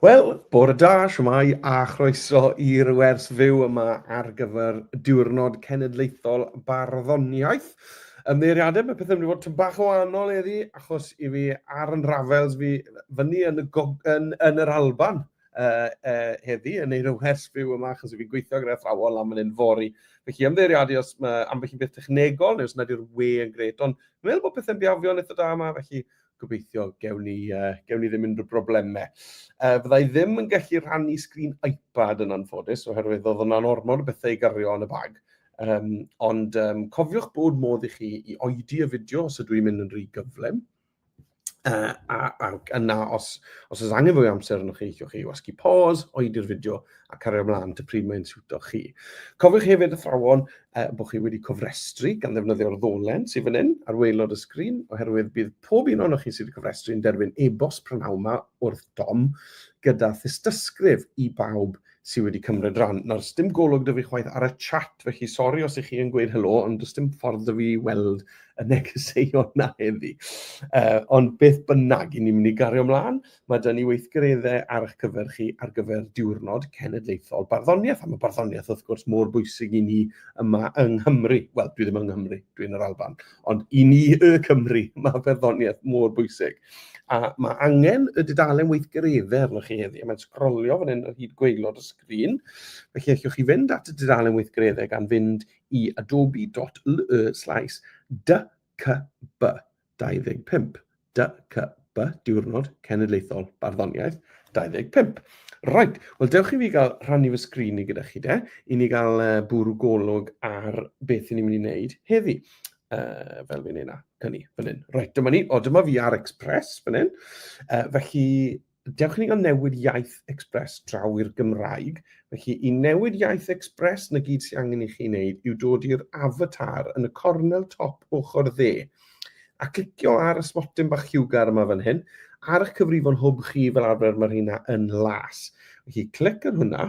Wel, bore da, shwmae a chroeso i'r wers fyw yma ar gyfer Diwrnod Cenedlaethol Barddoniaeth. Ymddeiriadau, mae pethau'n mynd i fod tyn bach o wahanol eddi, achos i fi ar yn rafels fi fyny yn y, yn, yn yr Alban uh, uh, heddi, yn ei wers fyw yma, achos i fi gweithio gyda thrawol am yn un fori. Felly ymddeiriadu os mae ambell i beth technegol, neu os nad yw'r we yn gret, ond meddwl bod pethau'n biafio'n eitha da yma, felly gobeithio gewn ni, uh, gewn ni ddim unrhyw broblemau. Uh, fydda i ddim yn gallu rhannu sgrin iPad yn anffodus, oherwydd oedd yna'n ormod o bethau i gario yn y bag. Um, ond um, cofiwch bod modd i chi i oedi y fideo os ydw i'n mynd yn rhy gyflym. Uh, a, a yna, os, os oes angen fwy amser yn chi, chi'ch chi wasgu pause, oedi'r fideo, a cario ymlaen at y pryd mae'n siwto chi. Cofiwch hefyd athrawon uh, bod chi wedi cofrestru gan ddefnyddio'r ddolen sydd fan hyn ar waelod y sgrin, oherwydd bydd pob un o'n chi sydd wedi cofrestru yn derbyn e-bost prynawn yma wrth dom gyda thystysgrif i bawb sydd wedi cymryd rhan. Nawr, dim golwg dwi fi chwaith ar y chat, felly sori os ych chi yn gweud helo, ond does dim ffordd dwi fi weld y negeseuon na heddi. Uh, ond beth bynnag, i ni'n mynd i gario ymlaen. Mae 'da ni weithgareddau ar eich cyfer chi ar gyfer Diwrnod Cenedlaethol Barddoniaeth, a mae barddoniaeth wrth gwrs mor bwysig i ni yma yng Nghymru. Wel, dwi ddim yng Nghymru, dwi'n yr Alban, ond i ni y Cymru, mae barddoniaeth mor bwysig. A mae angen y dudalen weithgareddau arnoch chi heddi, a mae'n sgrolio fan hyn ar hyd gweilod y sgrin. Felly allwch chi fynd at y dudalen weithgareddau gan fynd i adobe.ly slaes dycb 25. DCB, Diwrnod Cenedlaethol Barddoniaeth 25. Right, wel dewch i fi gael rhannu fy sgrin i gyda chi de, i ni gael uh, bwrw golwg ar beth i ni'n mynd i wneud heddi. Uh, fel fi'n ei na, cyni, fan hyn. Right, dyma ni, o dyma fi ar Express fan hyn. Uh, felly, Dewch i ni o newid iaith Express draw i'r Gymraeg. Felly, i newid iaith Express, na gyd sy'n angen i chi wneud yw dod i'r avatar yn y cornel top ochr dde, a clicio ar y sbotyn bach lliwgar yma fan hyn, ar eich cyfrifon hwb chi fel arfer mae rheina yn las. Felly, clic ar hwnna,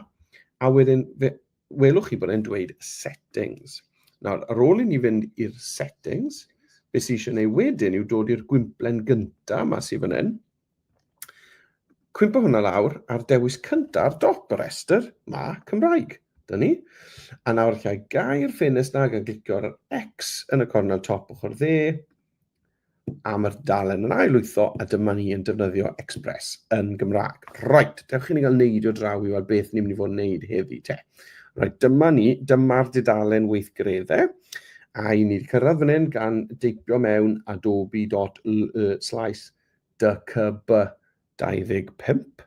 a wedyn welwch chi bod e'n dweud settings. Nawr, ar ôl i ni fynd i'r settings, beth sy'n eisiau ei wedyn yw dod i'r gwymplen gyntaf yma sy'n fan hyn, Cwympo hwnna lawr a'r dewis cyntaf ar dop y rhestr, ma, Cymraeg. Dyn ni. A nawr lle i gair ffenest na gan glicio ar yr X yn y cornel top ochr dde am yr dalen yn ail wytho a dyma ni yn defnyddio Express yn Gymraeg. Right, dewch chi ni gael neidio draw i weld beth ni'n mynd i fod yn neud heddi te. Right, dyma ni, dyma'r dudalen weithgredde a i ni wedi cyrraedd fan hyn gan deipio mewn adobe.slice e DCB 25,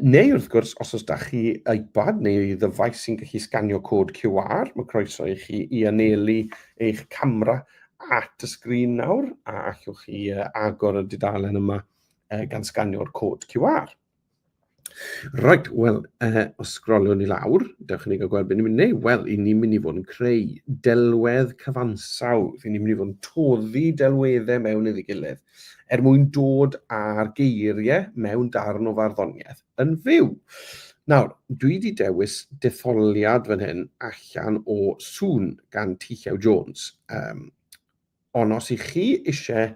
neu wrth gwrs, os oes da chi iPad neu ddyfais sy'n gallu sganio cod QR, mae croeso i chi i anelu eich camera at y sgrin nawr, a allwch chi agor y dudalen yma gan sganio'r cod QR. Right, wel, uh, os sgroliwn i lawr, dewch i ni gael gweld beth ni'n mynd i wneud. Wel, i ni'n mynd i fod yn creu delwedd cyfansaw. Fy ni'n mynd i fod yn toddi delweddau mewn iddi gilydd er mwyn dod â'r geiriau mewn darn o farddoniaeth yn fyw. Nawr, dwi wedi dewis detholiad fan hyn allan o sŵn gan Tichau Jones. Um, Ond os ych chi eisiau,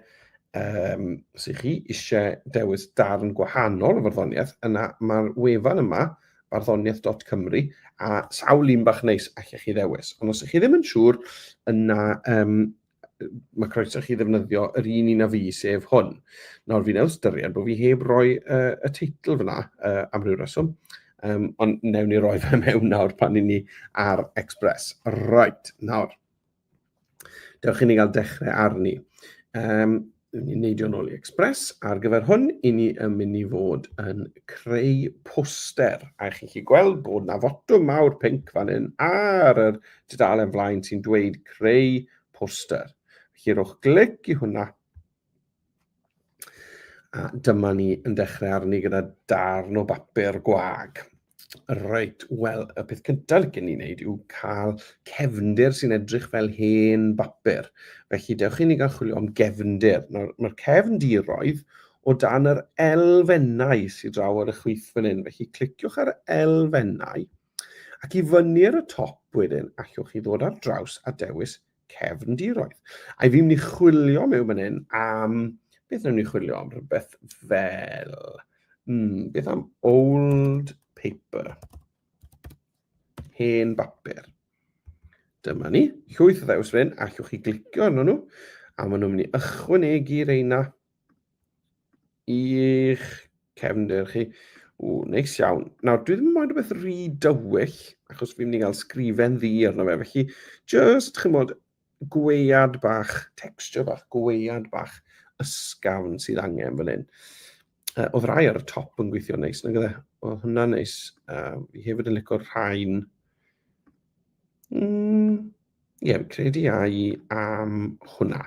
um, os ych chi eisiau dewis darn gwahanol o farddoniaeth, yna mae'r wefan yma, barddoniaeth.cymru, a sawl un bach neis allech chi ddewis. Ond os ych chi ddim yn siŵr, yna um, mae croeso chi ddefnyddio yr un un a fi, sef hwn. Nawr, fi newydd styried bod fi heb roi uh, y teitl fyna uh, am ryw reswm, um, ond newn ni roi fe mewn nawr pan i ni ar Express. Right, nawr, Dewch i ni gael dechrau arni. Um, ni'n neidio nôl i Express. Ar gyfer hwn, i ni yn mynd i fod yn creu poster. A chi'n chi gweld bod na fotwm mawr pink fan hyn ar yr dudalen flaen sy'n dweud creu poster. Felly rhowch glic i hwnna. A dyma ni yn dechrau arni gyda darn o bapur gwag. Reit, wel, y peth cyntaf licen ni wneud yw cael cefndir sy'n edrych fel hen bapur. Felly, dewch i ni gael chwilio am gefndir. Mae'r ma cefndiroedd o dan yr elfennau sydd draw ar y chwith fan hyn. Felly, cliciwch ar elfennau ac i fyny ar y top wedyn, allwch chi ddod ar draws a dewis cefndiroedd. A fi'n mynd i chwilio mewn fan hyn am... Beth ni'n mynd i chwilio am? Rhywbeth fel... Mm, beth am old paper? Hen bapur. Dyma ni. Llwyth o ddews fan hyn, allwch chi glicio arno nhw. A maen nhw'n mynd i ychwanegu reina I'ch cefndir chi. O, neis iawn. Nawr, dwi ddim yn moyn rhywbeth rhy dywyll, achos fi'n mynd i gael sgrifen ddi arno fe, felly just, chi'n modd, gweiad bach, texture bach, gweiad bach ysgafn sydd angen fan hyn. Uh, oedd rai ar y top yn gweithio neis, nag ydde? Oedd hwnna neis. Uh, fi hefyd yn licor rhain. Mm, Ie, fi'n credu ai am hwnna.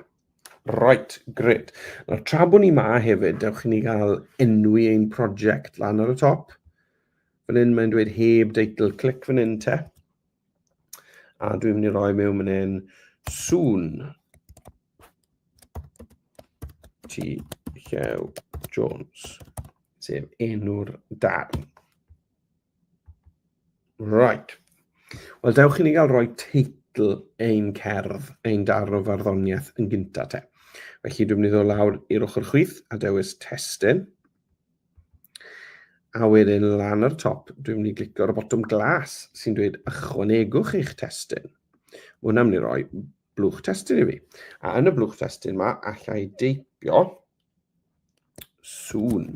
Right, gred. Nawr, tra bod ni ma hefyd, dewch i ni gael enwi ein prosiect lan ar y top. Fan hyn mae'n dweud heb deitl, clic fan hyn te. A dwi'n mynd i roi mewn fan hyn soon. Ti Llew Jones, sef enw'r darn. Right. Wel, dewch i ni gael rhoi teitl ein cerdd, ein darn o farddoniaeth yn gynta te. Felly dwi'n mynd i ddod lawr i'r ochr chwith a dewis testyn. A wedyn lan ar y top, dwi'n mynd i glicio ar y botwm glas sy'n dweud ychwanegwch eich testyn. Mae hwnna'n mynd i roi blwch testyn i fi. A yn y blwch testyn yma, allai deipio Sŵn.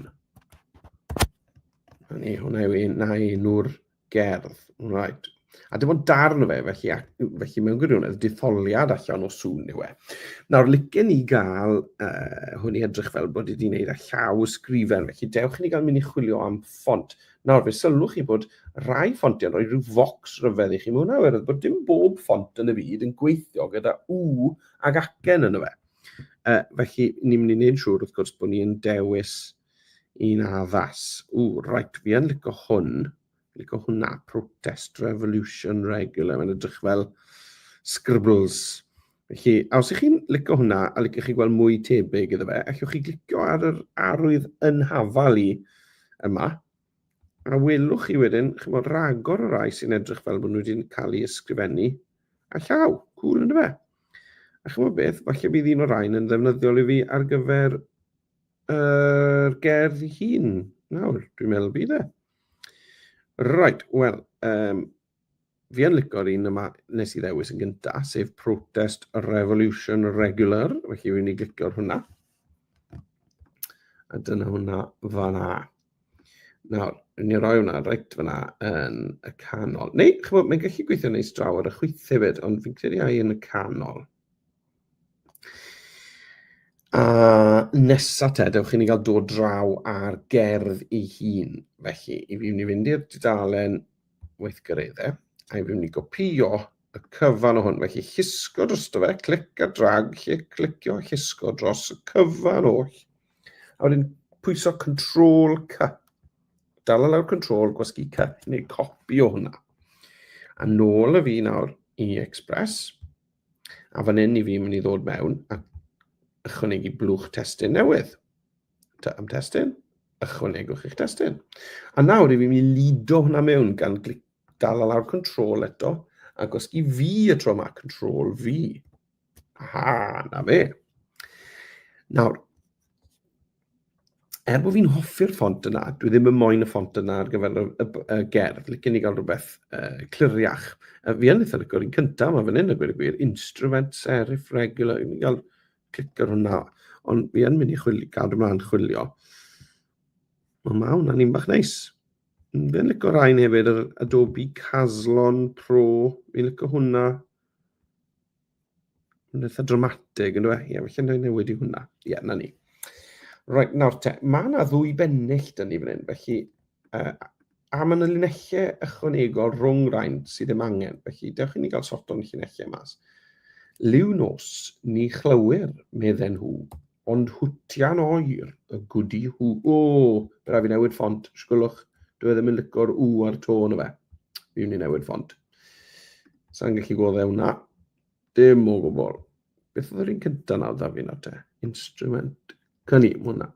Hynny, hwnna yw un, na un o'r gerdd. Right. A dim ond darn o fe, felly, felly mewn gwirionedd, detholiad allan o sŵn yw e. Nawr, licen ni gael uh, hwn i edrych fel bod wedi gwneud â llaw y sgrifen, felly dewch i ni gael mynd i chwilio am ffont. Nawr, fe sylwch chi bod rai ffontiau yn rhoi rhyw focs rhyfedd i chi. Mae hwnna oherwydd bod dim bob ffont yn y byd yn gweithio gyda U ag acen yn y fe. Uh, felly, ni'n mynd i wneud siŵr, wrth gwrs, bod ni'n dewis un addas. O, rhaid, fi yn licio hwn. Licio hwnna, Protest Revolution Regular. Mae'n edrych fel scribbles. Felly, a os ych chi'n licio hwnna a licio chi gweld mwy tebyg iddo fe, allwch chi glicio ar yr arwydd yn hafal i yma, A welwch chi wedyn, chymod, ragor o rai sy'n edrych fel bod nhw wedi cael ei ysgrifennu a llaw. Cŵl, ynddo fe? A chymod beth, falle bydd un o'r rhain yn ddefnyddiol i fi ar gyfer yr uh, gerdd ei hun. Nawr, dwi'n meddwl bydd e. Right, wel, um, fi yn licor un yma nes i ddewis yn gynta, sef Protest Revolution Regular, felly fi'n ni glicio'r hwnna. A dyna hwnna fanna. Nawr, rwy'n ni roi hwnna reit fanna yn y canol. Neu, chymod, mae'n gallu gweithio neis draw ar y chwyth hefyd, ond fi'n credu ai yn y canol. A nesa te, dewch i ni gael dod draw ar gerdd ei hun. Felly, i fi ni fynd i'r dudalen weithgareddau, a fi'n mynd i gopio y cyfan o hwn. Felly llusgo drosto fe, clic a drag, lle clicio a llusgo dros y cyfan oll. A wedyn pwyso Control C. Dala lawr Control, gwasgu C, neu copi o hwnna. A nôl y fi nawr i Express. A fan hyn i fi mynd i ddod mewn a ychwanegu blwch testyn newydd. am destun, ychwanegwch eich destun. A nawr, i fi mi lido hwnna mewn gan glic dal lawr control eto, a gosgi fi y tro yma, control fi. Aha, na fe. Nawr, er bod fi'n hoffi'r ffont yna, dwi ddim yn moyn y ffont yna ar gyfer y, y, y gerdd, licen i gael rhywbeth uh, cliriach. Uh, fi yn eitha licor i'n cyntaf, mae fan hyn y gwir y gwir, instrument serif regular, i gael clicio ar hwnna. Ond fi yn mynd i chwilio, gadw mlaen chwilio. Mae ma hwnna'n un bach neis. Fi'n licio rhain hefyd, yr Adobe Caslon Pro. Fi'n licio hwnna. Mae'n eitha dramatig, yn dweud. Ie, yeah, felly'n rhaid newid i hwnna. Ie, yeah, na ni. Rhaid, nawr te, mae yna ddwy bennill dyn ni fan hyn, felly uh, A mae yna linellau ychwanegol rhwng rhain sydd ddim angen, felly dewch i ni gael sort o'n llinellau mas. Liw nos, ni chlywyr, medden nhw, ond hwtian oer y gwdi hw. O, bydd rhaid fi newid ffont, sgwylwch, dwi e ddim yn licor u ar to yn y fe. Fi wni newid ffont. Sa'n gallu goddau hwnna. Dim o gwbl. Beth oedd yr un cyntaf nawr, da fi nawr te? Instrument. Gan i, hwnna.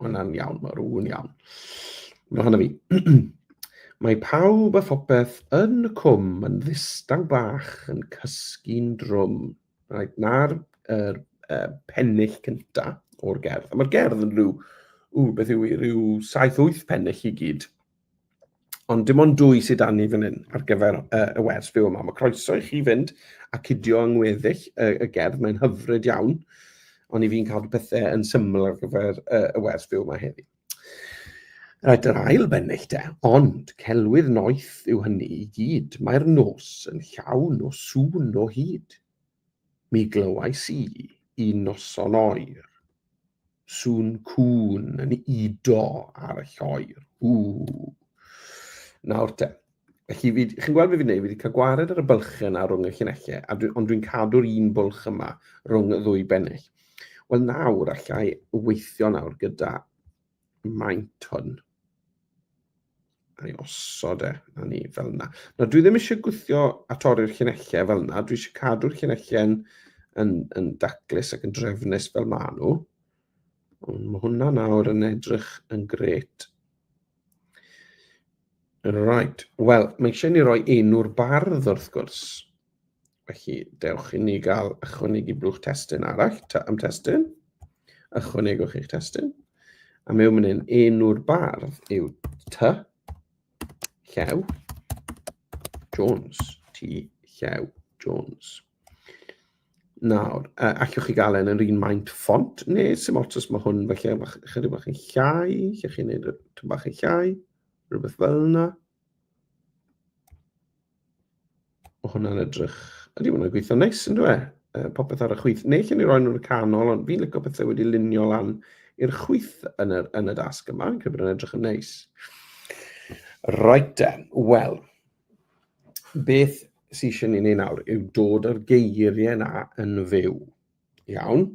Hwnna'n iawn, mae rhywun iawn. Mae hwnna fi. mae pawb a phopeth yn y cwm yn ddistaw bach yn cysgu'n drwm. Right, na'r er, er, pennill cyntaf o'r gerdd. Mae'r gerdd yn rhyw, ww, beth yw i, rhyw 7-8 pennill i gyd. Ond dim ond dwy sydd dan ni fan hyn ar gyfer uh, y wers byw yma. Mae croeso i chi fynd a cydio yng ngweddill y, y gerdd, mae'n hyfryd iawn, ond i fi'n cadw pethau yn syml ar gyfer uh, y wers byw yma heddi. Rhaid yr ail bennill de, ond celwydd noeth yw hynny i gyd. Mae'r nos yn llawn o sŵn o hyd. Mi glywais i, un noson oer, sŵn cŵn yn udo ar y lloer. Ww! Nawr te, felly, fi, chi'n gweld beth fi'n neud, fi wedi cael gwared ar y bylchau yna rhwng y llinellau, a dwi, ond dwi'n cadw'r un bwlch yma rhwng y ddwy bennill. Wel nawr, allai weithio nawr gyda maint hwn. A ni osod e, a ni fel yna. Nawr, dwi ddim eisiau gwythio a torri'r llunellau fel yna. Dwi eisiau cadw'r llunellau yn, yn, yn daclus ac yn drefnus fel maen nhw. Ond mae hwnna nawr yn edrych yn gret. Right, wel, mae eisiau ni roi enw'r bardd wrth gwrs. Felly, dewch i ni gael ychwanegu blwch testyn arall, ta am testyn. Ychwanegwch eich testyn. A mewn mynd yn enw'r bardd yw ty, llew, Jones, ty, llew, Jones. Nawr, uh, allwch chi gael e'n yr un maint ffont, neu sy'n ots os mae hwn felly chydig bach yn llai, lle chi'n gwneud y bach yn llai, rhywbeth fel yna. Mae hwnna'n edrych... Ydy, hwnna'n gweithio neis, yn dweud? E? Uh, popeth ar y chwyth. Neu lle ni roi nhw'n y canol, ond fi'n lygo pethau wedi lunio lan i'r chwyth yn y, yn y dasg yma. Fi'n credu bod yn edrych yn neis. Right then, wel, beth sy'n eisiau ni'n ei nawr yw dod â'r geiriau yna yn fyw. Iawn.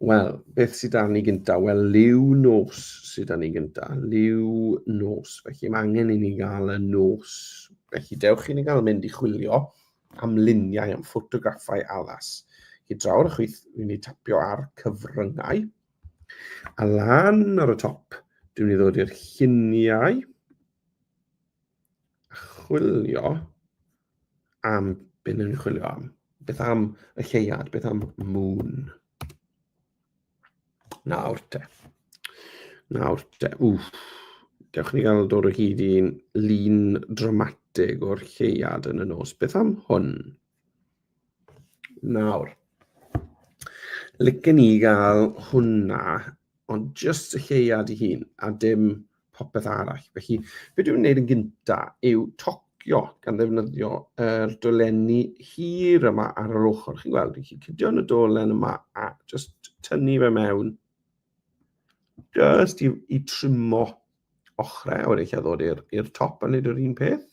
Wel, beth sydd dan ni gyntaf? Wel, liw nos sydd dan ni gyntaf. Liw nos. Felly mae angen i ni gael y nos. Felly dewch i ni gael mynd i chwilio am luniau, am ffotograffau alas. I draw'r chwyth, fi'n ei tapio ar cyfryngau. A lan ar y top, dwi'n ei ddod i'r lluniau. chwilio am, beth ni'n chwilio am? Beth am y lleuad? Beth am moon? Nawr te. Nawr te. Wff. Dewch ni gael dod o hyd i'n lun dramatig o'r lleuad yn y nos. Beth am hwn? Nawr, licen i gael hwnna, ond jyst y lleiad i hun, a dim popeth arall. Felly, beth dwi'n gwneud yn gyntaf yw tocio gan ddefnyddio yr er dolenni hir yma ar yr ochr. Chi'n gweld, chi'n cydio yn y dolen yma a jyst tynnu fe mewn. Jyst i, i trimo ochrau, a wedi lle ddod i'r top a wneud yr un peth.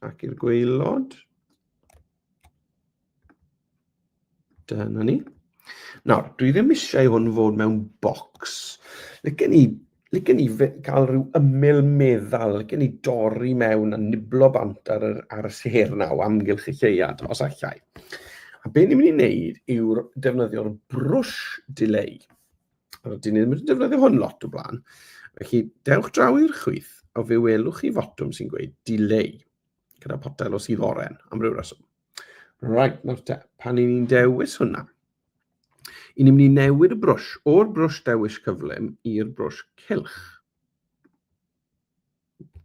ac i'r gweilod. Dyna ni. Nawr, dwi ddim eisiau hwn fod mewn bocs. Lygen ni, lygen ni cael rhyw ymyl meddal, lygen ni dorri mewn a niblo bant ar, yr, ar y ser naw amgylch y lleuad, os allai. A be ni'n mynd i wneud yw'r defnyddio'r brwsh delay. Rydyn ni ddim wedi defnyddio hwn lot o blaen. Felly, dewch draw i'r chwith, a fe welwch chi fotwm sy'n gweud delay, gyda potel o sydd oren, am ryw reswm. Right, nawr te, pan i ni'n dewis hwnna, i ni'n mynd i newid y brwsh o'r brwsh dewis cyflym i'r brwsh cilch.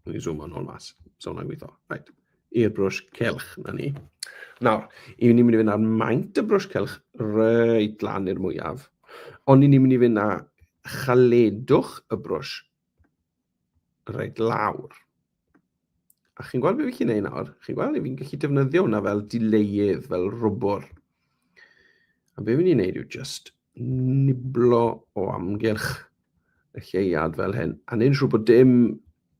Dwi'n zoom o'n hwn mas. So hwnna'n gweithio. Right. I'r brwsh celch, na ni. Nawr, i ni'n mynd i fynd ar maint y brwsh celch reit lan i'r mwyaf. Ond i ni'n mynd i fynd â chaledwch y brwsh reit lawr. A chi'n gweld beth fi'n gwneud nawr? Chi'n gweld, fi'n gallu defnyddio hwnna fel dileudd, fel rwbwr. A beth fi'n gwneud yw just niblo o amgylch y lleuad fel hyn, a ni'n siŵr bod dim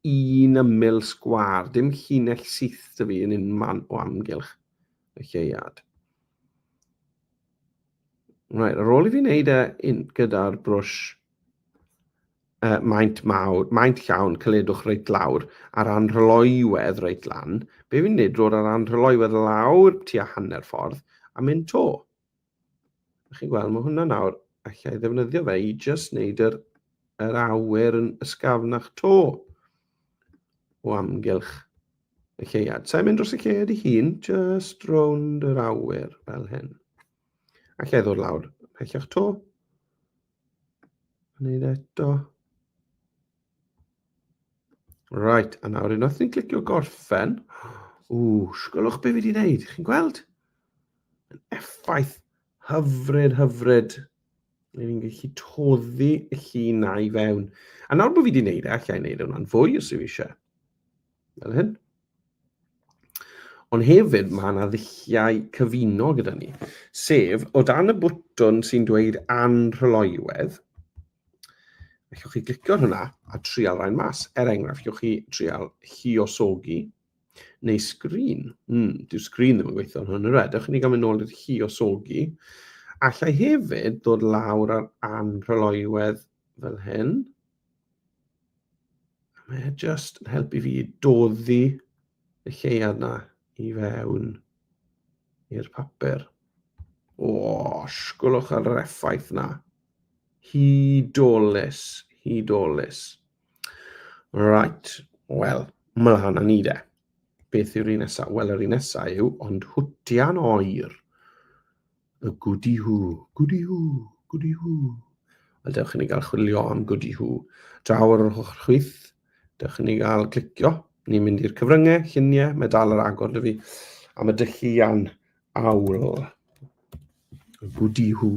un ymyl sgwar, dim llinell syth dy fi yn un man o amgylch y lleuad. Right, ar ôl i fi wneud e gyda'r brwsh uh, maint mawr, maint llawn, cyledwch reit lawr, a'r anrhyloiwedd reit lan, be fi'n neud drwy'r ar anrhyloiwedd lawr tua hanner ffordd, a mynd to. chi'n gweld, mae hwnna nawr, allai ddefnyddio fe i just wneud yr, yr awyr yn ysgafnach to o amgylch y lleuad. Sa'n mynd dros y lleuad i hun, just rownd yr awyr fel hyn. Allai ddod lawr pellach to. Gwneud eto. Right, a nawr unwaith ni'n clicio gorffen, ww, sgwylwch beth fi wedi wneud, chi'n gweld? Yn effaith hyfryd, hyfryd. Ni'n gallu toddi y llun na i fewn. A nawr bod fi wedi wneud e, allai wneud e hwnna'n fwy os yw eisiau. fel hyn. Ond hefyd mae yna ddulliau cyfuno gyda ni, sef o dan y bwtwn sy'n dweud anrhyloywedd, allwch chi glicio ar hwnna a trial rhain mas. Er enghraifft, allwch chi trial hiosogi neu sgrin. Mm, dyw sgrin ddim yn gweithio yn hwn, yr edrych, ni gael mynd nôl i'r hiosogi. Allai hefyd ddod lawr ar anrhyloywedd fel hyn. Mae e just yn helpu fi doddi y lleiad na i fewn i'r papur. O, sgwlwch ar yr effaith na. Hudolus, hudolus. Right, wel, mlaen â ni de. Beth yw'r un nesaf? Wel, yr un nesaf yw ond hwtian oer. y gwdi hw, gwdi hw, gwdi hw. A dewch i ni gael chwilio am gwdi hw. Draw ar yr ochr chwith, dewch i ni gael clicio. Ni'n mynd i'r cyfryngau, lluniau, mae dal yr agor dy fi. Am y dylluan awl. Y gwdi hw.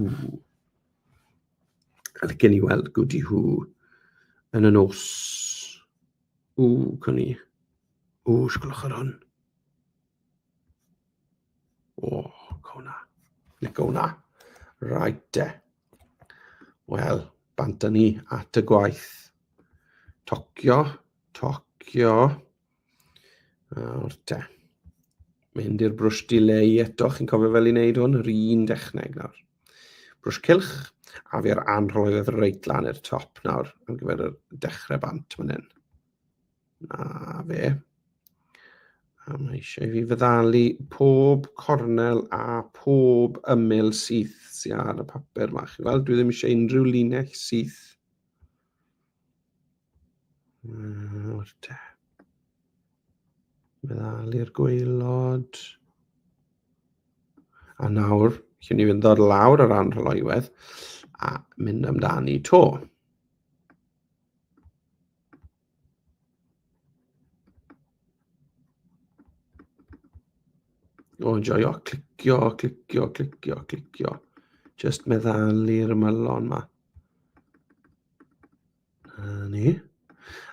A licen i weld gwdi hw yn y nos. Ww, cwn i. Ww, sgwlwch ar hwn. O, go na. Le go na. Right de. Wel, bant ni at y gwaith. Tocio, tocio. Nawr te. Mynd i'r brwsh dileu eto, chi'n cofio fel i wneud hwn, yr un dechneg nawr. Brwsh cilch, a fi ar anrhoedd reit lan i'r top nawr, am gyfer y dechrau bant fan hyn. Na fe. A mae eisiau fi fyddalu pob cornel a pob ymyl syth sydd ar y papur yma. Chi'n gweld, dwi ddim eisiau unrhyw linell syth. Nawr te. Meddalu'r gweilod. A nawr, chi'n ni fynd o'r lawr ar ran rholoiwedd a mynd amdani to. O, joio, clicio, clicio, clicio, clicio. Just meddalu'r ymylon ma. A ni.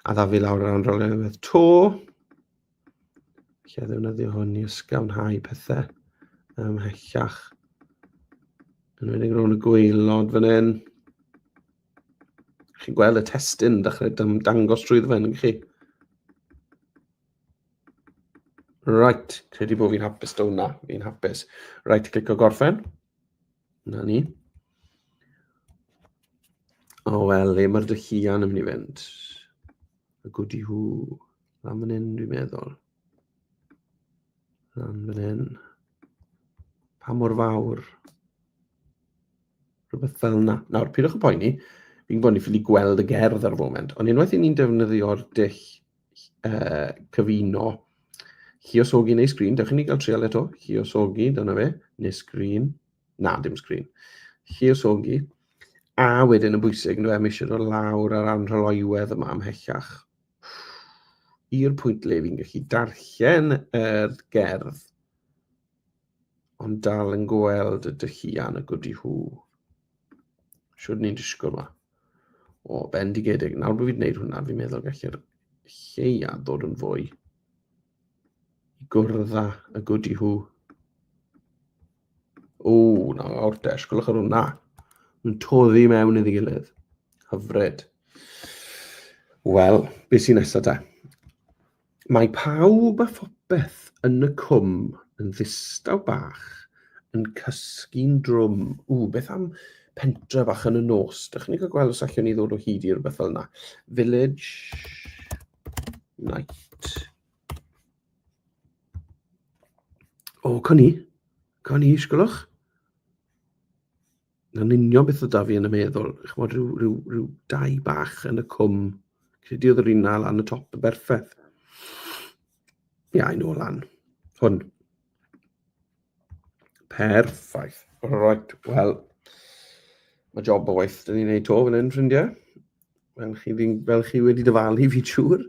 A dda fi lawr ar anrol unwaith to. Lle ddefnyddio hwn i ysgawnhau pethau ymhellach. Yn wedi'n rhwng y gweilod fan hyn. Chi'n gweld y testyn yn dechrau dangos drwy ddweud yn chi? Right, credu bod fi'n hapus do na, fi'n hapus. Right, clic o gorffen. Na ni. O wel, le mae'r dy huan yn mynd i fynd? Y gwdi hw. Lan fan hyn, dwi'n meddwl. Am fan hyn. Pa mor fawr? Rhywbeth fel yna. Nawr, pidwch y poeni. Fi'n gwybod ni ffili gweld y gerdd ar y foment, ond unwaith i ni'n defnyddio'r dull uh, cyfuno lliosogi neu sgrin, dewch i ni gael trial eto, lliosogi, dyna fe, neu sgrin, na, dim sgrin, lliosogi, a wedyn yn bwysig, nhw eisiau dod lawr ar anrholoiwedd yma ymhellach. i'r pwynt le fi'n gallu darllen yr gerdd ond dal yn gweld y dylluan y gwdi hw. Siwr ni'n disgwyl yma. O, bendigedig. Nawr bod fi'n gwneud hwnna, fi'n meddwl gallu'r lleia dod yn fwy i gwrdd â y good i hw. O, na, o'r desh, gwylwch ar hwnna. Mae'n toddi mewn iddi gilydd. Hyfryd. Wel, beth sy'n nesaf da? Mae pawb a phopeth yn y cwm yn ddistaw bach yn cysgu'n drwm. Ww, beth am pentre bach yn y nos? Dych chi'n cael gweld os allwn ni ddod o hyd i rhywbeth fel yna. Village... Night. O, oh, cwn i. Cwn i, sgwlwch. Na'n union beth oedd da fi yn y meddwl. Chymod, rhyw, rhyw, rhyw dau bach yn y cwm. Credu oedd yr un al lan y top yn berffaith. Ie, yeah, I know lan. Hwn. Perffaith. Right, wel, mae job o waith dyn ni'n neud to fan hyn, ffrindiau. Fel chi, fel chi wedi dyfalu fi siŵr.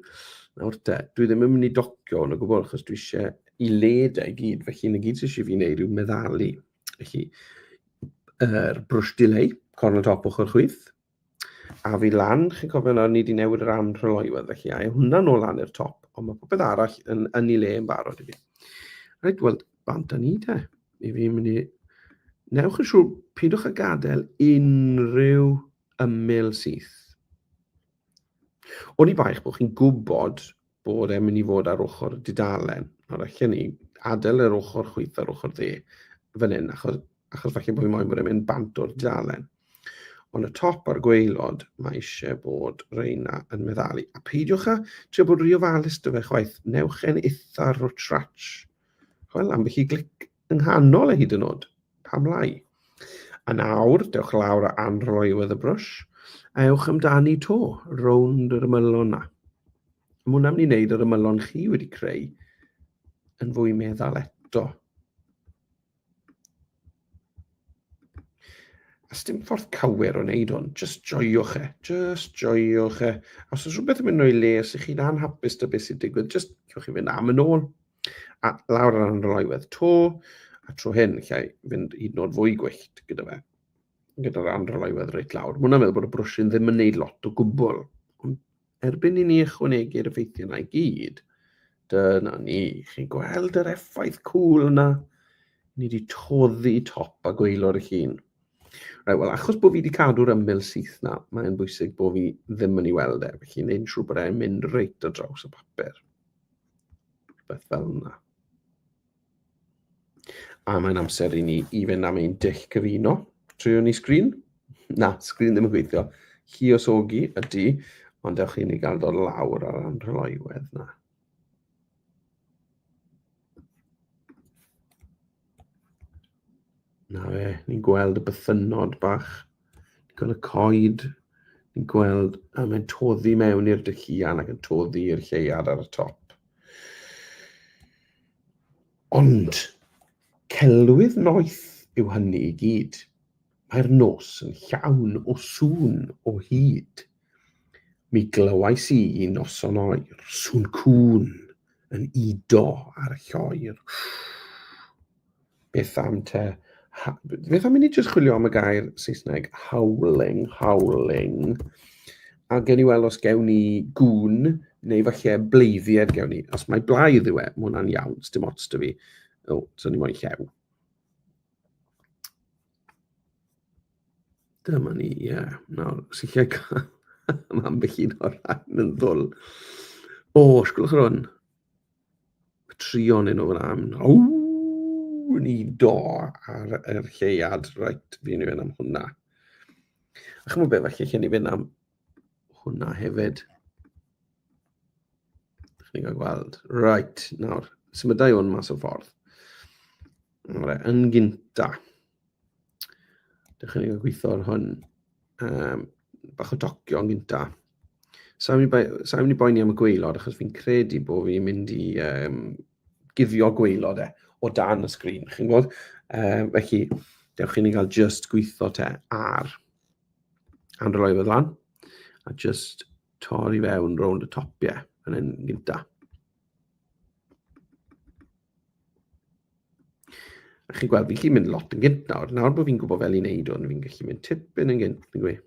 Nawr te, dwi ddim yn mynd i docio hwn o gwbl, achos dwi eisiau i led e i gyd, felly yn y gyd sy'n eisiau fi wneud yw meddalu. Felly, yr er brwsh delay, corn y top ochr chwith, a fi lan, chi'n cofio nawr, ni wedi newid yr anrhylywedd, felly a hwnna'n ôl lan i'r top, ond mae popeth arall yn, yn ei le yn barod i fi. Rhaid, wel, bant â ni te. I fi mynd i... Newch yn siŵr, pidwch a gadael unrhyw ymyl syth. Oni bai eich bod chi'n gwybod bod e'n mynd i fod ar ochr y dudalen, nawr allan ni adael yr ochr chwyth ar ochr dde fan hyn, achos, achos falle bod fi moyn bod e'n mynd bant o'r dudalen. Ond y top a'r gweilod, mae eisiau bod reina yn meddalu. A peidiwch â trio bod rhy ofalus dy fe chwaith, newch e'n eitha rwtrach. Wel, am bych i glic Yng nghanol e hyd yn o'd. Pam lai? A nawr, dewch lawr a anrhoi wedd y brwsh, a ewch amdani to, rownd yr ymylon na. Mae hwnna'n mynd i wneud yr ymylon chi wedi creu yn fwy meddal eto. A sdim ffordd cywir o wneud hwn, just joiwch e, just joiwch e. A os oes rhywbeth yn mynd o'i les i chi'n anhapus da beth sy'n digwydd, just cewch chi fynd am yn ôl, A lawr ar yr oerwedd to, a tro hyn, lle fynd hyd yn oed fwy gwyllt gyda fe, gyda'r anrholoedd reit lawr. Mwna meddwl bod y brwsyn ddim yn neud lot o gwbl, ond erbyn i ni ychwanegu'r effeithiau yna i gyd, dyna ni, chi'n gweld yr effaith cwl yna? Ni wedi toddi top a gweilor eich hun. Right, wel, achos bod fi wedi cadw'r ymyl syth na, mae'n bwysig bod fi ddim yn ei weld e, felly wneud yn siŵr bod e'n mynd reit o draws y papur. Rhywbeth fel yna. A mae'n amser i ni i fynd am ein dull cyfuno. Trwy ni sgrin? Na, sgrin ddim yn gweithio. Hi os ogi ydy, ond ewch i ni gael dod lawr ar ran rheolaiwedd na. Na fe, ni'n gweld y bythynod bach, ni'n gweld y coed, ni'n gweld a mae'n toddi mewn i'r dycian ac yn toddi i'r lleiad ar y top. Ond celwydd noeth yw hynny i gyd. Mae'r nos yn llawn o sŵn o hyd. Mi glywais i un noson oer, sŵn cŵn yn udo ar lloer. Beth am te? Beth am i ni jyst chwilio am y gair Saesneg howling, howling. A gen i weld os gewn ni gŵn neu falle bleiddied gewn ni. Os mae blaidd yw e, mae hwnna'n iawn, dim ots da fi. O, so ni moyn llew. Dyma ni, ie. Yeah. Nawr, sicr cael am ambell un o'r rhan yn ddwl. O, os gwelwch yr hwn. Y trion yn o'r am. O, ni do ar yr lleiad. Rhaid, fi'n mynd am hwnna. A chymryd be, felly, lle ni fynd am hwnna hefyd. Dych chi'n cael gweld. Right, nawr, symudau hwn mas o ffordd. Nawr, yn gynta, dych chi'n cael gweithio ar hwn. Um, bach o docio yn gynta. Sa'n mynd i boeni am y gweilod, achos fi'n credu bod fi'n mynd i um, guddio gweilod e o dan y sgrin, chi'n gwybod? Um, felly, dewch chi'n ei cael just gweithio te ar And roi fe lan. A just torri fewn rownd y topiau yn un gynta. A chi'n gweld, fi'n gallu mynd lot yn gynt nawr. Nawr bod fi'n gwybod fel i'n neud hwn, fi'n gallu mynd tipyn yn gynt, fi'n gweud.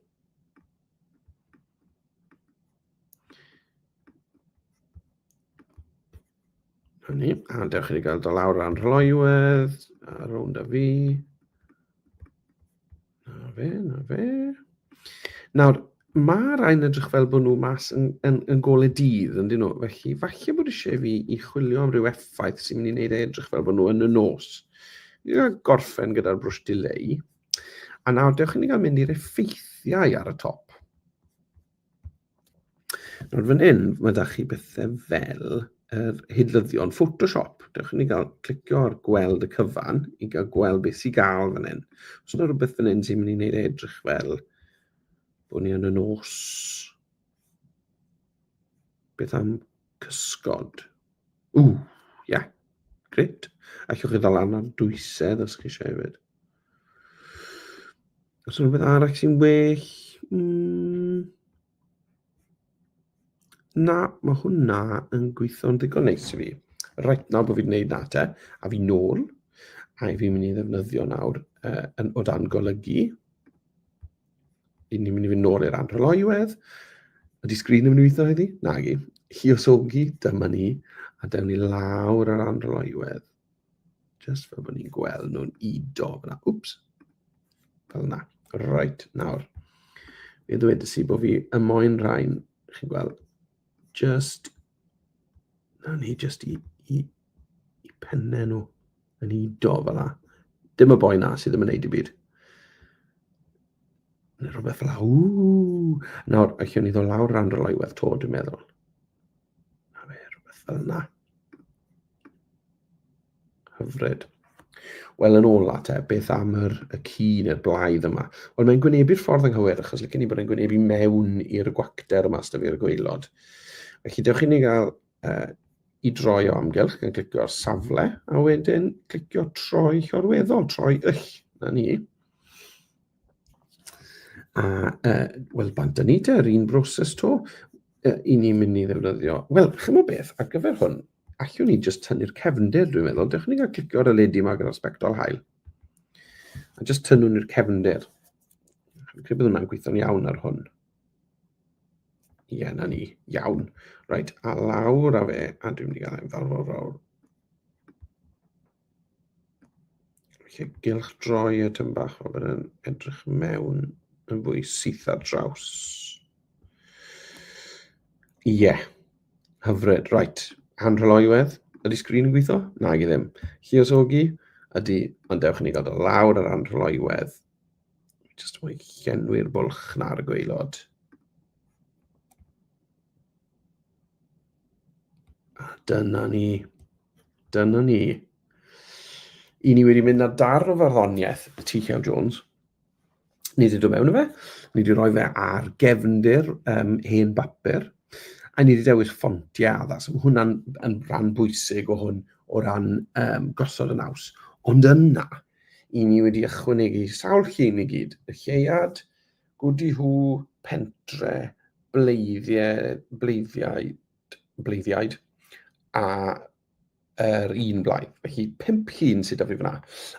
Hynny, a dewch i gael do lawr ran rhoiwedd, a rownd a fi. Na fe, na fe. Nawr, mae rhain edrych fel bod nhw mas yn, yn, yn gole dydd, yn dyn nhw. Felly, falle bod eisiau fi i chwilio am ryw effaith sy'n mynd i wneud e edrych fel bod nhw yn y nos. Ni gael gorffen gyda'r brwsh dileu. A nawr, dewch i ni gael mynd i'r effeithiau ar y top. Nawr fan hyn, mae da chi bethau fel yr hidlyddion Photoshop. Dewch i ni gael clicio ar gweld y cyfan i gael gweld beth sy'n gael fan hyn. Os yna rhywbeth fan hyn sy'n mynd i wneud edrych fel bod ni yn y nos. Beth am cysgod? Ww, ia, yeah. gret. Allwch chi ddal lan ar dwysedd os chi eisiau hefyd. Os yna rhywbeth arall sy'n well? Mm, na, mae hwnna yn gweithio'n ddigon neis i fi. Rhaid nawr bod fi'n gwneud na te, a fi nôl, a i fi'n mynd i ddefnyddio nawr uh, yn, o dan golygu. I ni'n mynd i fynd nôl i'r anrheolaiwedd. Ydy sgrin yn mynd i weithio heddi? Na, gi. Lluosogi, dyma ni, a dewn ni lawr yr anrheolaiwedd. Just fel bod ni'n gweld nhw'n ido fyna. Wps. Fel yna. Right, nawr. Mi ddweud i bod fi y moyn rhain, chi'n gweld, just, na ni just i, i, i penne nhw yn ido fel yna. Dim y boi na sydd ddim yn neud i byd. Neu rhywbeth fel yna. Nawr, allwn ni ddod lawr rhan rhoi weld to, dwi'n meddwl. A fe, rhywbeth fel yna. Hyfryd. Wel, yn ôl at e, beth am yr, y cu neu'r blaidd yma? Wel, mae'n gwynebu'r ffordd anghywir, achos licen i bod yn gwynebu mewn i'r gwacter yma sydd i'r gweilod. Felly, dewch i ni gael uh, i droi o amgylch gan glicio'r safle, a wedyn clicio troi llorweddol, troi yll, na ni. A yy wel bant a ni te, yr un broses 'to, yy 'yn ni'n mynd i ddefnyddio. Wel, chimod beth, ar gyfer hwn, allwn ni jyst tynnu'r cefndir dwi'n meddwl, dewch i ni gael clicio ar y ledi yma gyda'r sbectol haul. A jyst tynnu ni'r cefndir. Dwi'n credu bod hwnna'n gweithio'n iawn ar hwn. Ie, yeah, na ni, iawn. Reit, a lawr a fe, a dwi'n mynd i gael e'n fawr, fawr, fawr. Felly, gylch droi y tyn bach o fan yn edrych mewn yn fwy syth ar draws. Ie, yeah. hyfryd, right. Hanrheloiwedd, ydy sgrin yn gweithio? Na, i ddim. Lliosogi, ydy, ond dewch i ni gael dod lawr ar anrheloiwedd. Just mwy llenwi'r bwlch na'r gweilod. A dyna ni. Dyna ni. I ni wedi mynd ar darn o farddoniaeth T.K. Jones. Ni wedi dod mewn i fe. Ni wedi rhoi fe ar gefndir um, hen bapur. A ni wedi dewis ffontiau addas. Mae hwnna'n yn rhan bwysig o hwn o ran um, gosod y naws. Ond yna, i ni wedi ychwanegu sawl llun i gyd. Y lleuad, Gudi hu pentre bleiddiaid, bleiddiaid a yr un blaen. Felly, pimp llun sydd da fi fyna.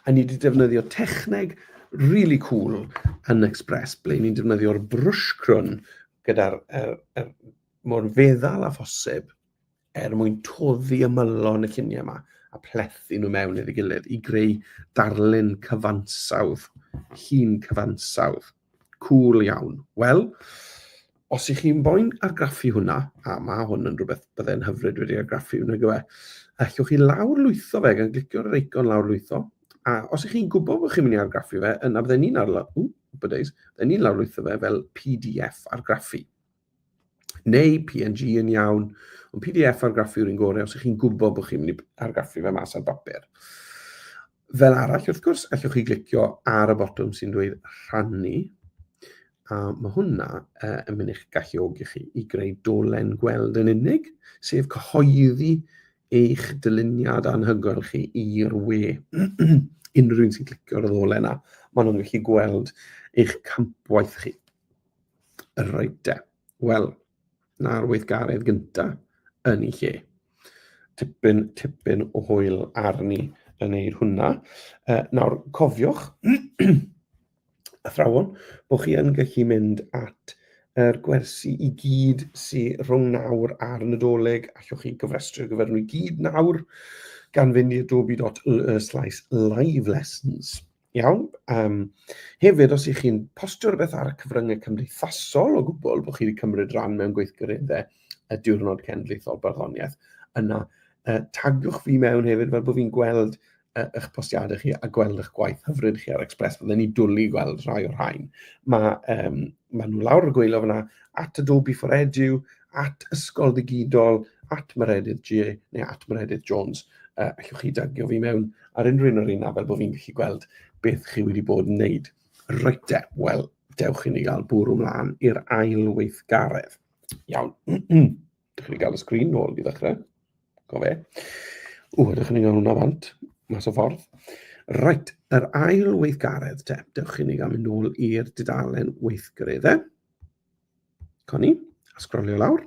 A ni wedi defnyddio techneg really cool yn Express, ble ni'n defnyddio'r brwsh crwn gyda'r er, er, mor feddal a phosib er mwyn toddi ymylon y lluniau yma a plethu nhw mewn i'r gilydd i greu darlun cyfansawdd, llun cyfansawdd. Cool iawn. Wel, os ych chi'n boen argraffu hwnna, a mae hwn yn rhywbeth byddai'n hyfryd wedi argraffu hwnna gyfe, allwch chi lawr lwytho fe gan glicio'r ar eicon lawr lwytho, a os ych chi'n gwybod bod chi'n mynd i argraffu fe, yna byddai'n ni'n arlo, ww, byddai'n ni'n lawr lwytho fe fel PDF argraffu. neu PNG yn iawn, ond PDF argraffu yw'r un gorau os ych chi'n gwybod bod chi'n mynd i argraffu fe mas ar bapur. Fel arall, wrth gwrs, allwch chi glicio ar y botwm sy'n dweud rhannu, a mae hwnna uh, yn mynd i'ch galluogi chi i greu dolen gweld yn unig, sef cyhoeddi eich dyluniad anhygoel chi i'r we. Unrhyw un sy'n clicio ar y ddolen yna, maen nhw'n gallu gweld eich campwaith chi. Reit de. Wel, na'r weithgaredd gynta yn ei lle. Tipyn, tipyn o hwyl arni yn neud hwnna. Uh, nawr, cofiwch, athrawon, bod chi yn gallu mynd at yr er gwersi i gyd sy'n rhwng nawr a'r Nadolig, allwch chi gyfrestru gyfer nhw i gyd nawr gan fynd i adobe.ly slash live lessons. Iawn. Um, hefyd, os ych chi'n postio rhywbeth ar y cyfryngau cymdeithasol o gwbl bod chi wedi cymryd rhan mewn gweithgareddau y diwrnod cenedlaethol barddoniaeth, yna uh, tagiwch fi mewn hefyd fel bod fi'n gweld uh, eich postiadau chi a gweld eich gwaith hyfryd chi ar Express. Byddwn ni dwlu gweld rhai o'r rhain. Mae, um, mae nhw lawr y gweilo fyna at Adobe for Edu, at Ysgol Ddigidol, at Meredydd G neu at Meredydd Jones. Uh, allwch chi dagio fi mewn Ar unrhyw un o'r un fel bod fi'n gallu gweld beth chi wedi bod yn wneud. Reit e, wel, dewch i ni gael bwrw mlaen i'r ail weithgaredd. Iawn. Dych chi'n gael y sgrin nôl i ddechrau. Go fe. O, ydych chi'n gael hwnna fant? Mas o ffordd. Reit, yr ail weithgaredd te. Dewch i ni gael mynd nôl i'r dudalen weithgareddau. Coni, a sgrolio lawr.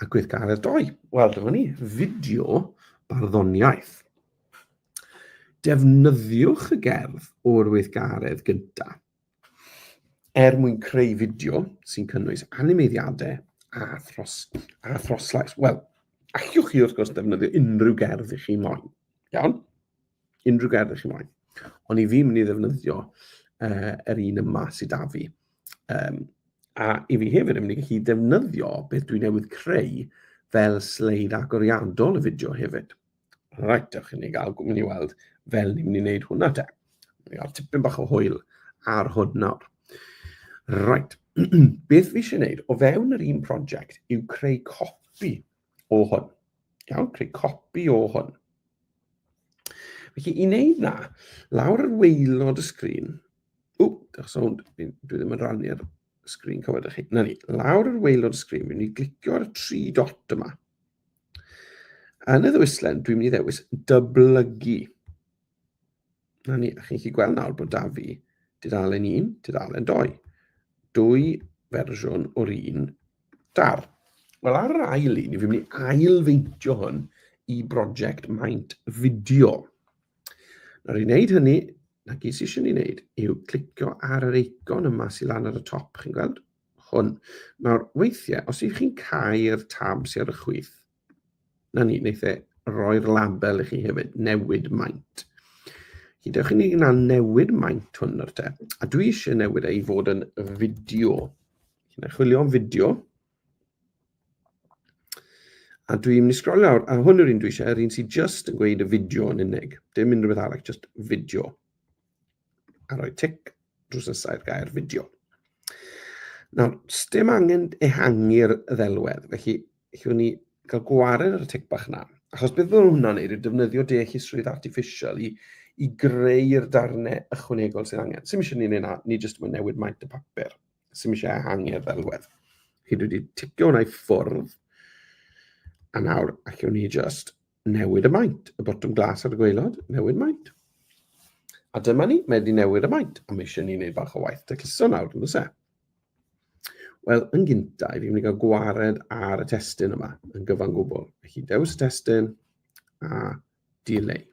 A gweithgaredd doi. Wel, dyma ni, fideo barddoniaeth. Defnyddiwch y gerdd o'r weithgaredd gyntaf er mwyn creu fideo sy'n cynnwys animeiddiadau a, thros, a throslais. Wel, allwch chi wrth gwrs defnyddio unrhyw gerdd i chi moyn. Iawn? unrhyw gerdd ych chi moyn. Ond i fi mynd i ddefnyddio uh, yr un yma sydd da fi. Um, a i fi hefyd yn mynd i gallu defnyddio beth dwi newydd creu fel sleid agoriadol y fideo hefyd. Rhaid, ych chi'n ei gael, gwmni i weld fel ni'n mynd i wneud hwnna te. Ni'n gael tipyn bach o hwyl ar hwn nawr. Rhaid, beth fi eisiau gwneud o fewn yr un prosiect yw creu copi o hwn. Iawn, creu copi o hwn. Felly, i wneud na, lawr yr weilod y sgrin, o, diolch sawnd, dwi ddim yn rannu ar sgrin cyfod chi. Na ni, lawr yr weilod y sgrin, fi'n mynd i glicio ar y tri dot yma. Yn y ddwislen, dwi'n mynd i ddewis dyblygu. Na ni, a chi'n chi gweld nawr bod da fi dudalen 1, dudalen 2. Dwy fersiwn o'r un dar. Wel, ar yr ail un, ni fi'n mynd i ailfeintio hwn i brosiect maint fideo. Nawr i wneud hynny, na gyd sy'n eisiau ni wneud yw clicio ar yr eicon yma sy'n lan ar y top, chi'n gweld? Hwn. Nawr, weithiau, os ydych chi'n cael tabs ar y chwith, 'na ni, wneith e roi'r label i chi hefyd, newid maint. Chi dewch i ni yna newid maint hwn o'r te, a dwi eisiau newid ei fod yn fideo. Chi'n ei chwilio am fideo, a dwi'n mynd i sgrol lawr, a hwn yw'r un dwi eisiau, yr un sy'n just yn gweud y fideo yn unig, dim unrhyw beth arall, just fideo. a rhoi tic drws nesau'r gair fideo. Nawr, dim angen ehangu'r ddelwedd, felly chi'n ni gael gwared ar y tic bach na. Achos beth fydd hwnna'n neud yw defnyddio deallusrwydd artiffisial i, i greu'r darnau ychwanegol sydd angen. Sym eisiau ni'n ei na, ni jyst yn newid maint y papur. Sym eisiau ehangu'r ddelwedd. Chi wedi ticio hwnna i ffwrdd. A nawr, allwn ni jyst Newid y maint. Y botwm glas ar y gweilod, newid maint. A dyma ni, mae wedi newid y maint, a mae eisiau ni wneud bach o waith tecluso nawr, yn ddysau. Wel, yn gyntaf, fi'n mynd i gael gwared ar y testyn yma, yn gyfan gwbl. Felly, dewis y testyn, a delay.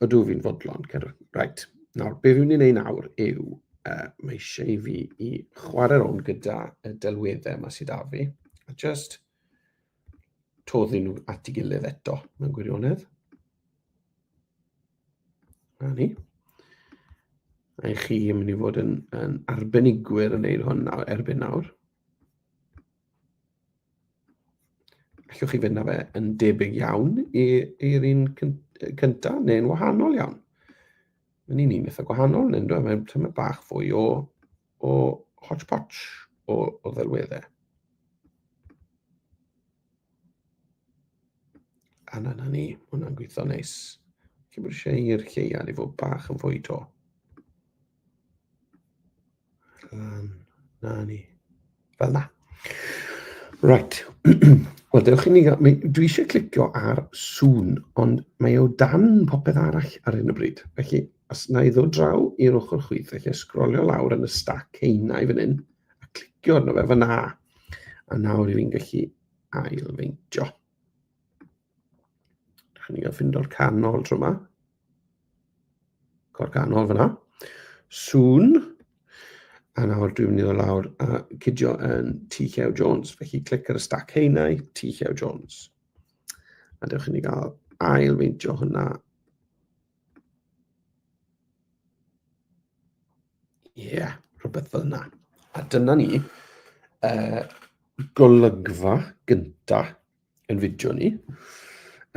Ydw fi'n fodlon, Cerwyn. Right. Nawr, be fi'n mynd i wneud nawr yw, uh, mae eisiau i fi i chwarae rown gyda y delweddau yma sydd â fi, a just toddi nhw at ei gilydd eto, mewn gwirionedd. Na ni. A chi yn mynd i fod yn, yn arbenigwyr yn neud hwn nawr, erbyn nawr. Allwch chi fynd â fe yn debyg iawn i'r un cyntaf neu'n wahanol iawn. Mae'n un un eitha gwahanol, neu'n dweud mae'n tyma bach fwy o o hodgepodge o, o ddelweddau. A na, na ni, hwnna'n gweithio neis. Chi'n bod eisiau i'r lleia i fod bach yn fwy to. Lan, na ni. Fel 'na. Reit. Wel, dewch i ni... Mi, dwi eisiau clicio ar sŵn, ond mae o dan popeth arall ar hyn o bryd. Felly, os na i ddod draw i'r ochr chwith, felly sgrolio lawr yn y stac heina i fan hyn, a clicio arno fe fan A. A nawr i fi'n gallu ailfeintio. Dych chi'n gael ffindo'r canol tro yma. Cor ganol fyna. Soon. A nawr dwi'n mynd i ddod lawr a cydio yn T. Llew Jones. Felly clic ar y stac heinau, T. Llew Jones. A dewch i ni gael ail feintio hwnna. Ie, yeah, rhywbeth fel yna. A dyna ni, uh, golygfa gyntaf yn fideo ni,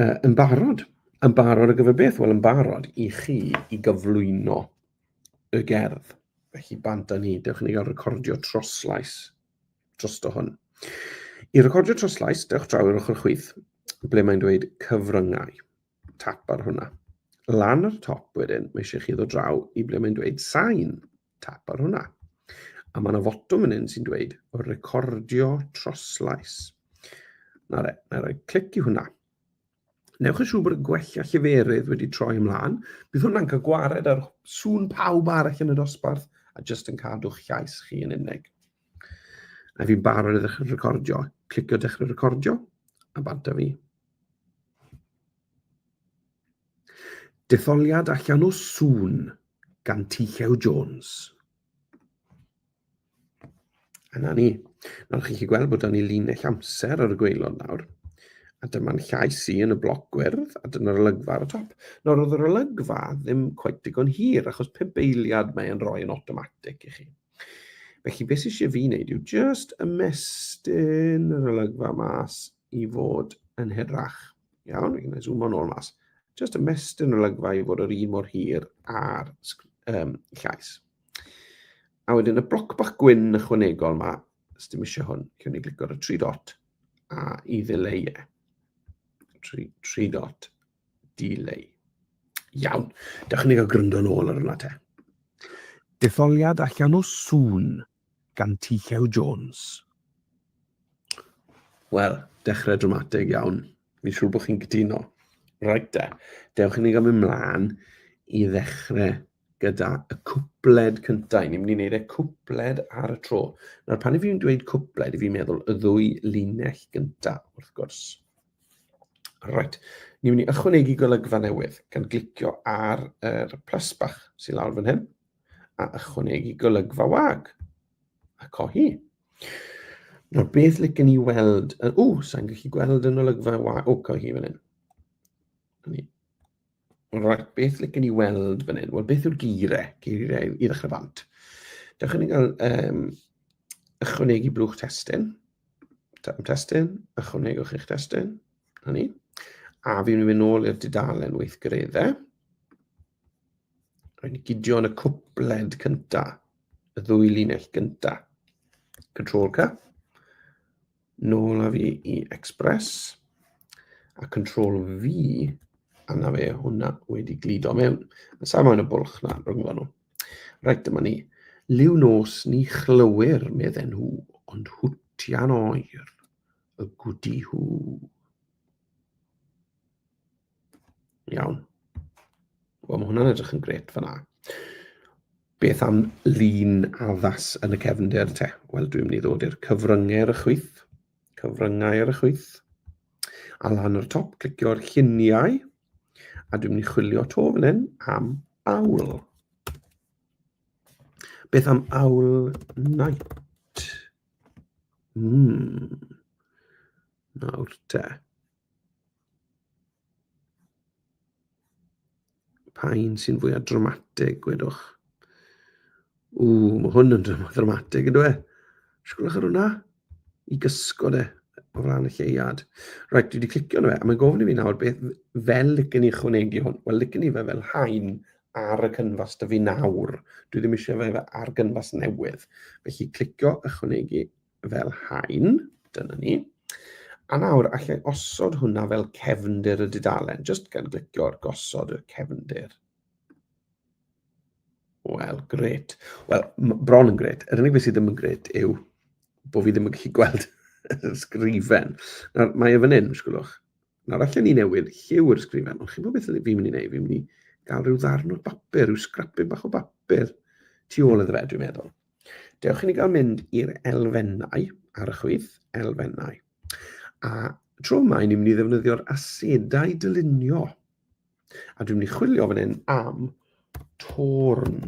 uh, yn barod. Yn barod ar gyfer beth? Wel, yn barod i chi i gyflwyno y gerdd. Felly, bant â ni, dewch i ni gael recordio troslais drosto hwn. I recordio troslais, dewch draw i'r ochr chwith, ble mae'n dweud cyfryngau. Tap ar hwnna. Lan ar y top wedyn, mae eisiau chi ddod draw i ble mae'n dweud sain. Tap ar hwnna. A mae yna fotwm yn un sy'n dweud recordio troslais. Na re, na re, clic i hwnna. Newch yn siŵr bod y gwella lleferydd wedi troi ymlaen. Bydd hwnna'n cael gwared ar sŵn pawb arall yn y dosbarth a jyst yn cadw'ch llais chi yn unig. A fi'n barod i ddechrau recordio. Clicio dechrau recordio a banta fi. Detholiad allan o sŵn gan T-Llew Jones. A na ni. Nawr chi'n chi gweld bod dan ni linell amser ar y gweilod nawr. A dyma'n llais i yn y bloc gwyrdd, a dyna'r olygfa ar y top. Nawr oedd yr olygfa ddim cweit digon hir, achos pump eiliad mae e'n rhoi yn automatic i chi. Felly beth sy'n eisiau fi wneud yw just ymestyn yr olygfa mas i fod yn hirach. Iawn, fi'n gwneud zoomo'n ôl mas. Just ymestyn olygfa i fod yr un mor hir ar um, llais. A wedyn y bloc bach gwyn ychwanegol yma, os dim eisiau hwn, cyn ni glicio ar y tri dot a i ddileu e. Tri, tri dot, dileu. Iawn, dewch ni gael gryndo yn ôl ar hwnna te. Detholiad allan o sŵn gan Tycho Jones. Wel, dechrau dramatig iawn. Fi'n siŵr bod chi'n gytuno. Rhaid de, dewch i ni gael mynd mlaen i ddechrau gyda y cwpled cyntaf. Ni'n mynd i wneud y cwpled ar y tro. Nawr, pan i fi'n dweud cwpled, i fi'n meddwl y ddwy linell gyntaf, wrth gwrs. Rhaid, ni'n mynd i ychwanegu golygfa newydd gan glicio ar yr plus bach sy'n lawr fan hyn. a ychwanegu golygfa wag. A cohi. Nawr, beth lycyn ni weld... O, sa'n gallu gweld yn olygfa wag. O, cohi fan hyn. Right, beth lycyn ni weld fan hyn? Wel, beth yw'r geirau? Geirau i ddechrau bant. Dewch i ni gael um, ychwanegu blwch testyn. Testyn, ychwanegwch eich testyn. Hynny. A fi'n mynd nôl i'r dudalen weithgareddau. Rwy'n gydio yn y cwpled cynta, y ddwy linell gynta. Control ca. Nôl a fi i Express. A Control V, a na fe hwnna wedi glido mewn. Yn sa'n maen y bwlch na, rhwng nhw. Rhaid dyma ni. Liw nos ni chlywyr, medden nhw, ond hwtian oer y gwdi hw. Iawn. Wel, mae hwnna'n edrych yn gret fanna. Beth am lun addas yn y cefnder te? Wel, dwi'n mynd i ddod i'r cyfryngau ar y chwyth. Cyfryngau ar y chwyth. A lan o'r top, clicio'r lluniau. A dwi'n mynd i chwilio to fan hyn am awl. Beth am awl night? Mm. Nawr te. Pa un sy'n fwyaf dramatig, gwedwch? Ww, mae hwn yn dramatig, ydw e? Sgwlwch ar hwnna. I gysgod e o ran y lleuad. Rhaid, dwi wedi clicio arno fe, a mae'n gofyn i fi nawr beth fel licen i chwnegu hwn. Wel, licen i fe fel hain ar y cynfas da fi nawr. Dwi ddim eisiau fe ar gynfas newydd. Felly, clicio ychwanegu fel hain, dyna ni. A nawr, allai osod hwnna fel cefndir y dudalen, jyst gan glicio ar gosod y cefndir. Wel, gret. Wel, bron yn gret. Yr unig beth sydd ddim yn gret yw bod fi ddim yn gallu gweld y sgrifen. Nawr, mae e fan hyn, sgwlwch. Nawr, allan ni newid lliw yr sgrifen, ond chi'n bod beth fi'n mynd i wneud? Fi'n mynd i gael rhyw ddarn o'r bapur, rhyw sgrapyn bach o bapur tu ôl iddo fe, dwi'n meddwl. Dewch i ni gael mynd i'r elfennau ar y chwith, elfennau. A tro yma, ni'n mynd i ddefnyddio'r asedau dylunio. A dwi'n mynd i chwilio fan hyn am torn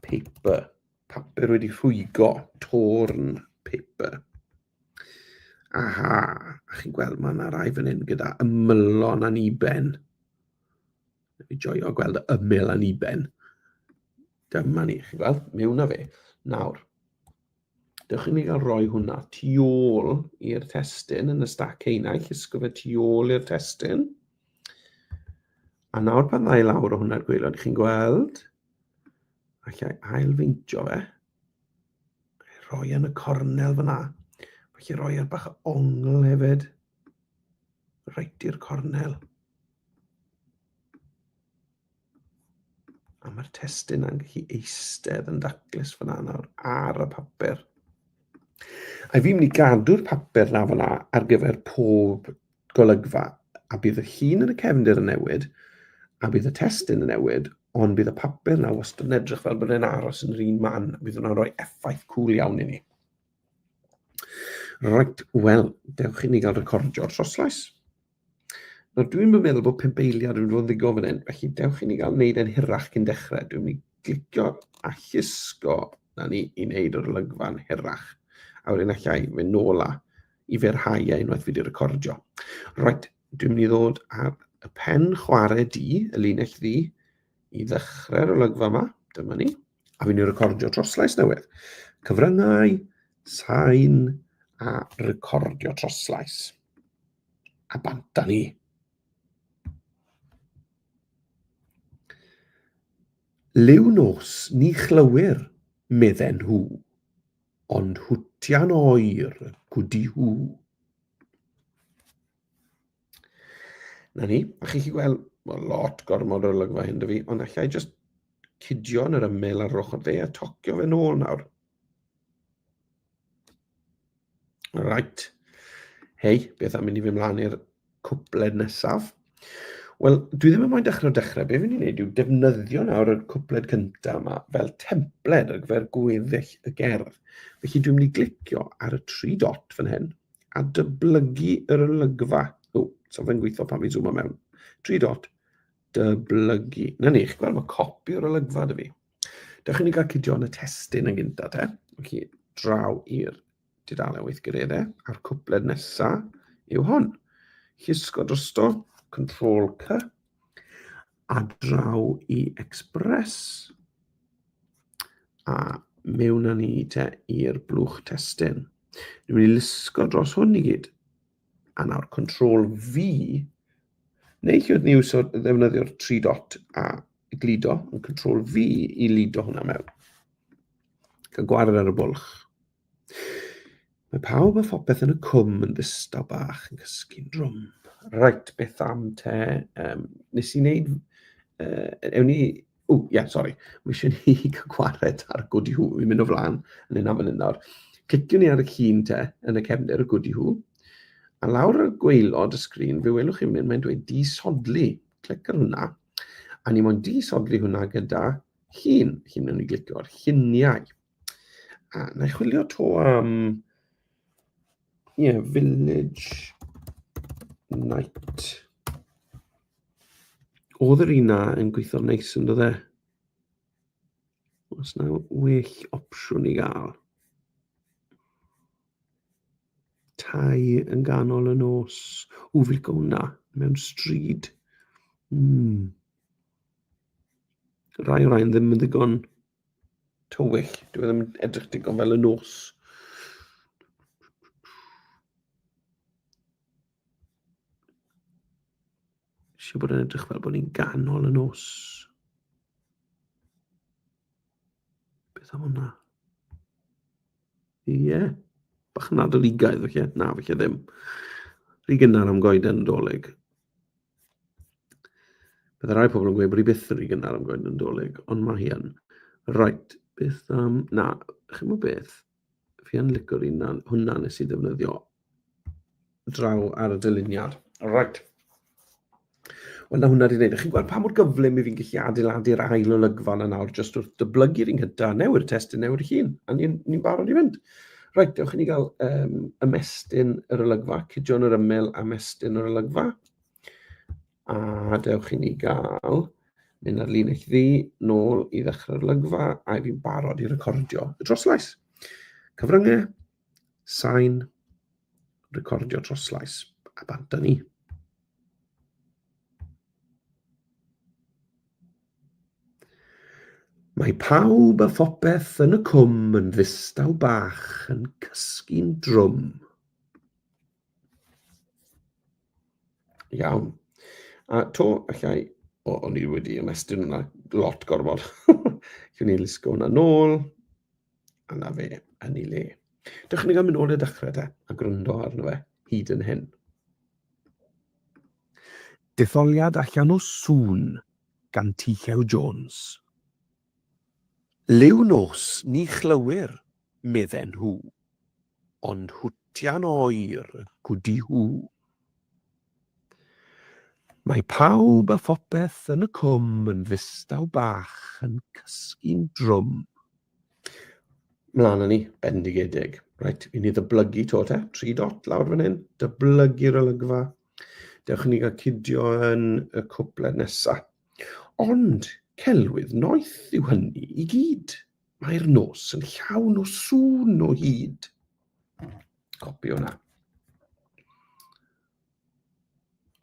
paper, papur wedi rhwygo, torn paper. Aha, a chi'n gweld mae yna rai fan hyn gyda ymylon aniben. Dwi'n joio gweld y ymyl yn iben. Dyma ni, chi weld, mewn na fe. Nawr, dewch i ni gael rhoi hwnna tu ôl i'r testyn yn y stac heinau, llusgo fe tu ôl i'r testyn. A nawr pan ddau lawr o hwnna'r gweilod, chi'n gweld, allai ailfeintio fe, rhoi yn y cornel fyna, felly rhoi ar bach o ongl hefyd, reit i'r cornel. A mae'r testyn yn gallu eistedd yn daclus fyna nawr ar y papur. A fi'n mynd i gadw'r papur na fyna ar gyfer pob golygfa. A bydd y llun yn y cefndir yn newid, a bydd y testyn yn newid, ond bydd y papur na wastad yn edrych fel bod e'n aros yn yr un man. Bydd hwnna'n rhoi effaith cwl iawn i ni. Right, wel, dewch i ni gael recordio'r troslais. Nawr, dwi'n mynd meddwl bod pimp eiliad yn fod yn ddigon fan hyn, felly dewch i ni gael wneud e'n hirach cyn dechrau. Dwi'n mynd i glicio a llusgo na ni i wneud yr olygfa'n hirach. A wedyn allai fe nôl a i ferhau a unwaith fi wedi recordio. Right, dwi'n mynd i ddod ar y pen chwarae di, y linell ddi, i ddechrau'r olygfa yma, dyma ni, a fi'n ei recordio troslais newydd. Cyfryngau, sain a recordio troslais. A bant da ni. Liw nos ni chlywyr, medden nhw, ond hwtian oer gwdi hw. Na ni, a chi'n chi gweld, mae lot gormod o'r lygfa hyn dy fi, ond allai jyst cydio yn yr ymyl ar ochr dde a tocio fe nôl nawr. Right. Hei, beth am mynd i fy mlaen i'r cwpled nesaf? Wel, dwi ddim yn moyn dechrau o dechrau. Be fi'n ni'n neud yw defnyddio nawr y cwpled cyntaf yma fel templed ar gyfer gweddill y gerdd. Felly dwi'n mynd i glicio ar y tri dot fan hyn a dyblygu yr olygfa. O, so fe'n gweithio pan fi'n zoomo mewn. Tri dot, dyblygu. Na ni, chi'n gweld, mae copi o'r olygfa dy fi. Dewch i ni gael cydio yn y testyn yn gynta te. Ok, draw i'r dudalen weithgareddau a'r cwpled nesaf yw hwn. Llusgo drosto, Control C, a draw i Express, a mewn â ni te i'r blwch testyn. Dwi'n mynd i lusgo dros hwn i gyd. A nawr control V, neu chi oedd ni iwsio ddefnyddio'r tri dot a gludo, yn control V i lido hwnna mewn. Cael gwared ar y bwlch. Mae pawb a phopeth yn y cwm yn ddistaw bach yn cysgu'n drwm. Rhaid beth am te, um, nes i wneud, uh, ewn ni O, ie, yeah, sori. Mae eisiau ni gwared ar gwdi hw. Fi'n mynd o flaen yn un am yn un nawr. Cliciwn ni ar y llun te yn y cefndir y gwdi hw. A lawr y gweilod y sgrin, fe welwch chi mynd, mae'n dweud disodli. Clic ar hwnna. A ni mo'n disodli hwnna gyda llun. Llun yn ei glicio ar lluniau. A na i chwilio to am... Ie, yeah, village night. Oedd yr un na yn gweithio'n neis yn dod e? Os na well opsiwn i gael. Tai yn ganol y nos. Ww, fi'n licio hwnna. Mewn stryd. Mm. Rai o rhain ddim yn ddigon tywyll. Dwi e ddim yn edrych digon fel y nos. Siw bod yn edrych fel bod ni'n ganol y nos. Beth am hwnna? Ie. Yeah. Bach yn adoligaidd, fe lle? Na, fe lle ddim. Rhi gynnar am goeden y dolyg. Bydd rai pobl yn gweud bod hi byth yn rhy gynnar am goeden y dolyg, ond mae hi yn. Right, beth am... Na, chi'n gwybod beth? Fi yn licio'r un na, hwnna nes i ddefnyddio draw ar y dyluniad. Right. Wel, na hwnna wedi gwneud. Chi'n gweld pa mor gyflym i fi'n gallu adeiladu'r ail olygfa yna nawr, jyst wrth dyblygu'r un gyda, newy'r testyn, newy'r hun, a ni'n ni barod i fynd. Rhaid, dewch i ni gael um, ymestyn yr olygfa, cydion yr ymyl a mestyn yr olygfa. A dewch i ni gael mynd ar lun eich ddi, nôl i ddechrau'r lygfa, a fi'n barod i recordio y troslais. Cyfryngau, sain, recordio troslais, a bant ni. Mae pawb a phopeth yn y cwm yn ddistaw bach yn cysgu'n drwm. Iawn. A to, allai... O, o'n i wedi ymestyn hwnna lot gormod. Gwn ni lusgo hwnna nôl. A na fe, yn ei le. Dewch ni gael mynd nôl i'r dechrau de, a gwrando arno fe hyd yn hyn. Detholiad allan o sŵn gan T. Llew Jones. Liw nos ni chlywir, medden nhw, ond hwtian oer gudi hw. Mae pawb a phopeth yn y cwm yn ddistaw bach yn cysgu'n drwm. Mlaen â ni, bendigedig. Reit, i ni ddyblygu to te. Tri dot lawr fan hyn, dyblygu'r olygfa. Dewch i ni gael cidio yn y cwpled nesaf. Ond, celwydd noeth yw hynny i gyd. Mae'r nos yn llawn o sŵn o hyd. Copio hwnna.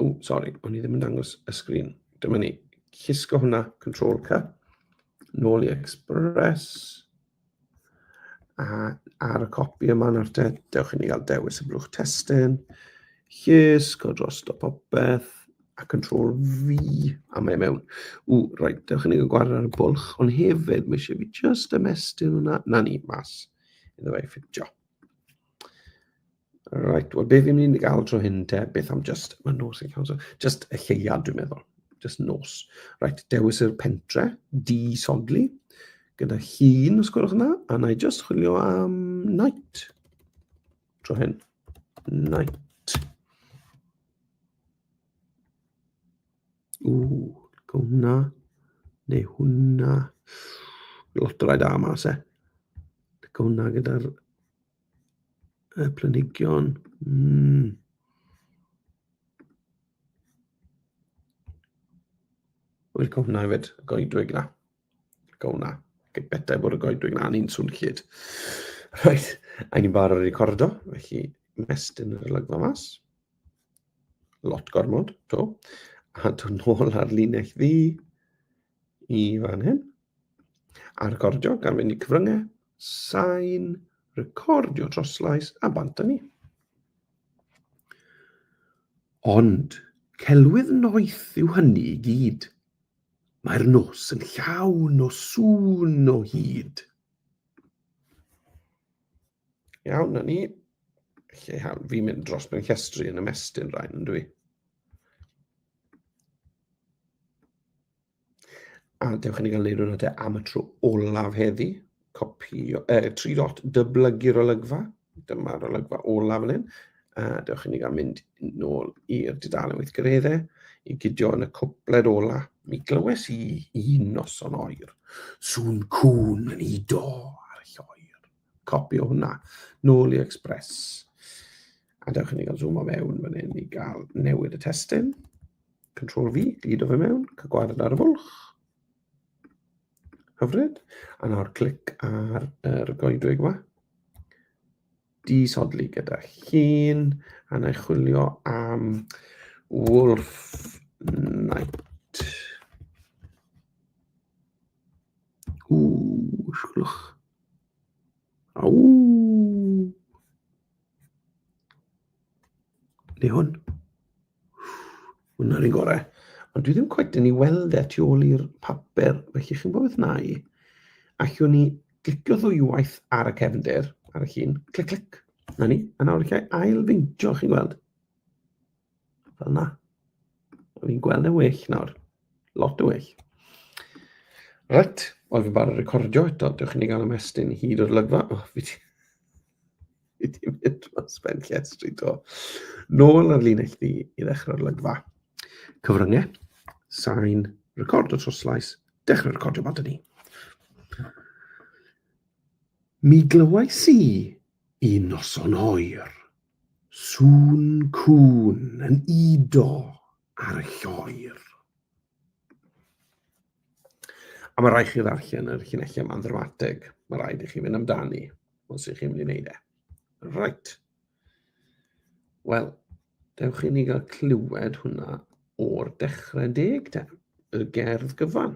O, sori, o'n i ddim yn dangos y sgrin. Dyma ni. Chisgo hwnna, Control C. Nôl i Express. A ar y copi yma nawr te, dewch i ni gael dewis y blwch testyn, llys, go dros o popeth, a control V, a mae e mewn. Ww, rhaid, dewch i ni gael gwared ar y bwlch, ond hefyd, mae eisiau fi just ymestyn hwnna, na ni, mas, iddo fe ffitio. Right, wel be fi'n mynd i gael tro hyn te, beth am just, mae nos yn cael, so just y lleuad dwi'n meddwl, just nos. Right, dewis yr pentre, di sodli, gyda hun, os gwelwch yna, a na i just chwilio am night. Tro hyn, night. Ww, go hwnna. Neu hwnna. Lot o rai da yma, se. Go hwnna gyda'r y planigion. Mm. Wel, go hwnna hefyd, y goedwig na. Go hwnna. Bethau bod y goedwig na, ni'n swn llyd. Rhaid, a ni'n barod i recordo, felly mestyn yr olygfa mas. Lot gormod, to. A dwi'n nôl ar linell ddi i fan hyn. A recordio gan fynd i cyfryngau, sain, recordio troslais a bant ni. Ond celwydd noeth yw hynny i gyd. Mae'r nos yn llawn o sŵn o hyd. Iawn, na ni. Lle iawn, fi'n mynd dros mewn llestri yn ymestyn rhain, yn dwi. A dewch i ni gael leirw na te am y tro olaf heddi. Copio, eh, tri dot dyblygu'r olygfa. Dyma'r olygfa olaf yn hyn. A dewch i ni gael mynd nôl i'r dudalen weithgareddau i gydio yn y cwpled ola. Mi glywes i un noson oer, sŵn cwn yn ido ar lloer. copi o hwnna, nôl i Express. A dewch i ni gael zoom o mewn fan hyn i gael newid y testyn. Control V, glido fe mewn, cygwared ar y fwlch. Hyfryd. A nawr clic ar yr goedwig yma. Disodli gyda llun, a na i chwilio am Wolf Knight. Ww, siwlwch. Aww. Neu hwn. Hwna'r un gorau. Ond dwi ddim cwet yn ei weld e tu ôl i'r papur, felly chi'n gwybod beth na i. Allwn ni glicio ddwywaith ar y cefndir, ar y llun, clic, clic. Na ni, a nawr allai ail-feintio, chi'n gweld. Fel na. O'n i'n gweld yn well nawr. Lot yn well. Reit, oedd fi'n barod recordio eto, dewch i ni gael ymestyn hyd o'r lygfa. O, oh, fi di... Fi di mynd o'n spen llestri to. Nôl ar linell fi i ddechrau'r lygfa. Cyfryngau, sain, record o troslais, dechrau recordio bant ni. Mi glywais i un noson oer Sŵn cŵn yn udo ar y lloer. A mae rhaid chi ddarllen yr llinellau yma'n ddramatig. Mae rhaid i chi fynd amdani, os ych chi'n mynd i wneud e. Right. Wel, dewch i ni gael clywed hwnna o'r dechrau deg te, y gerdd gyfan.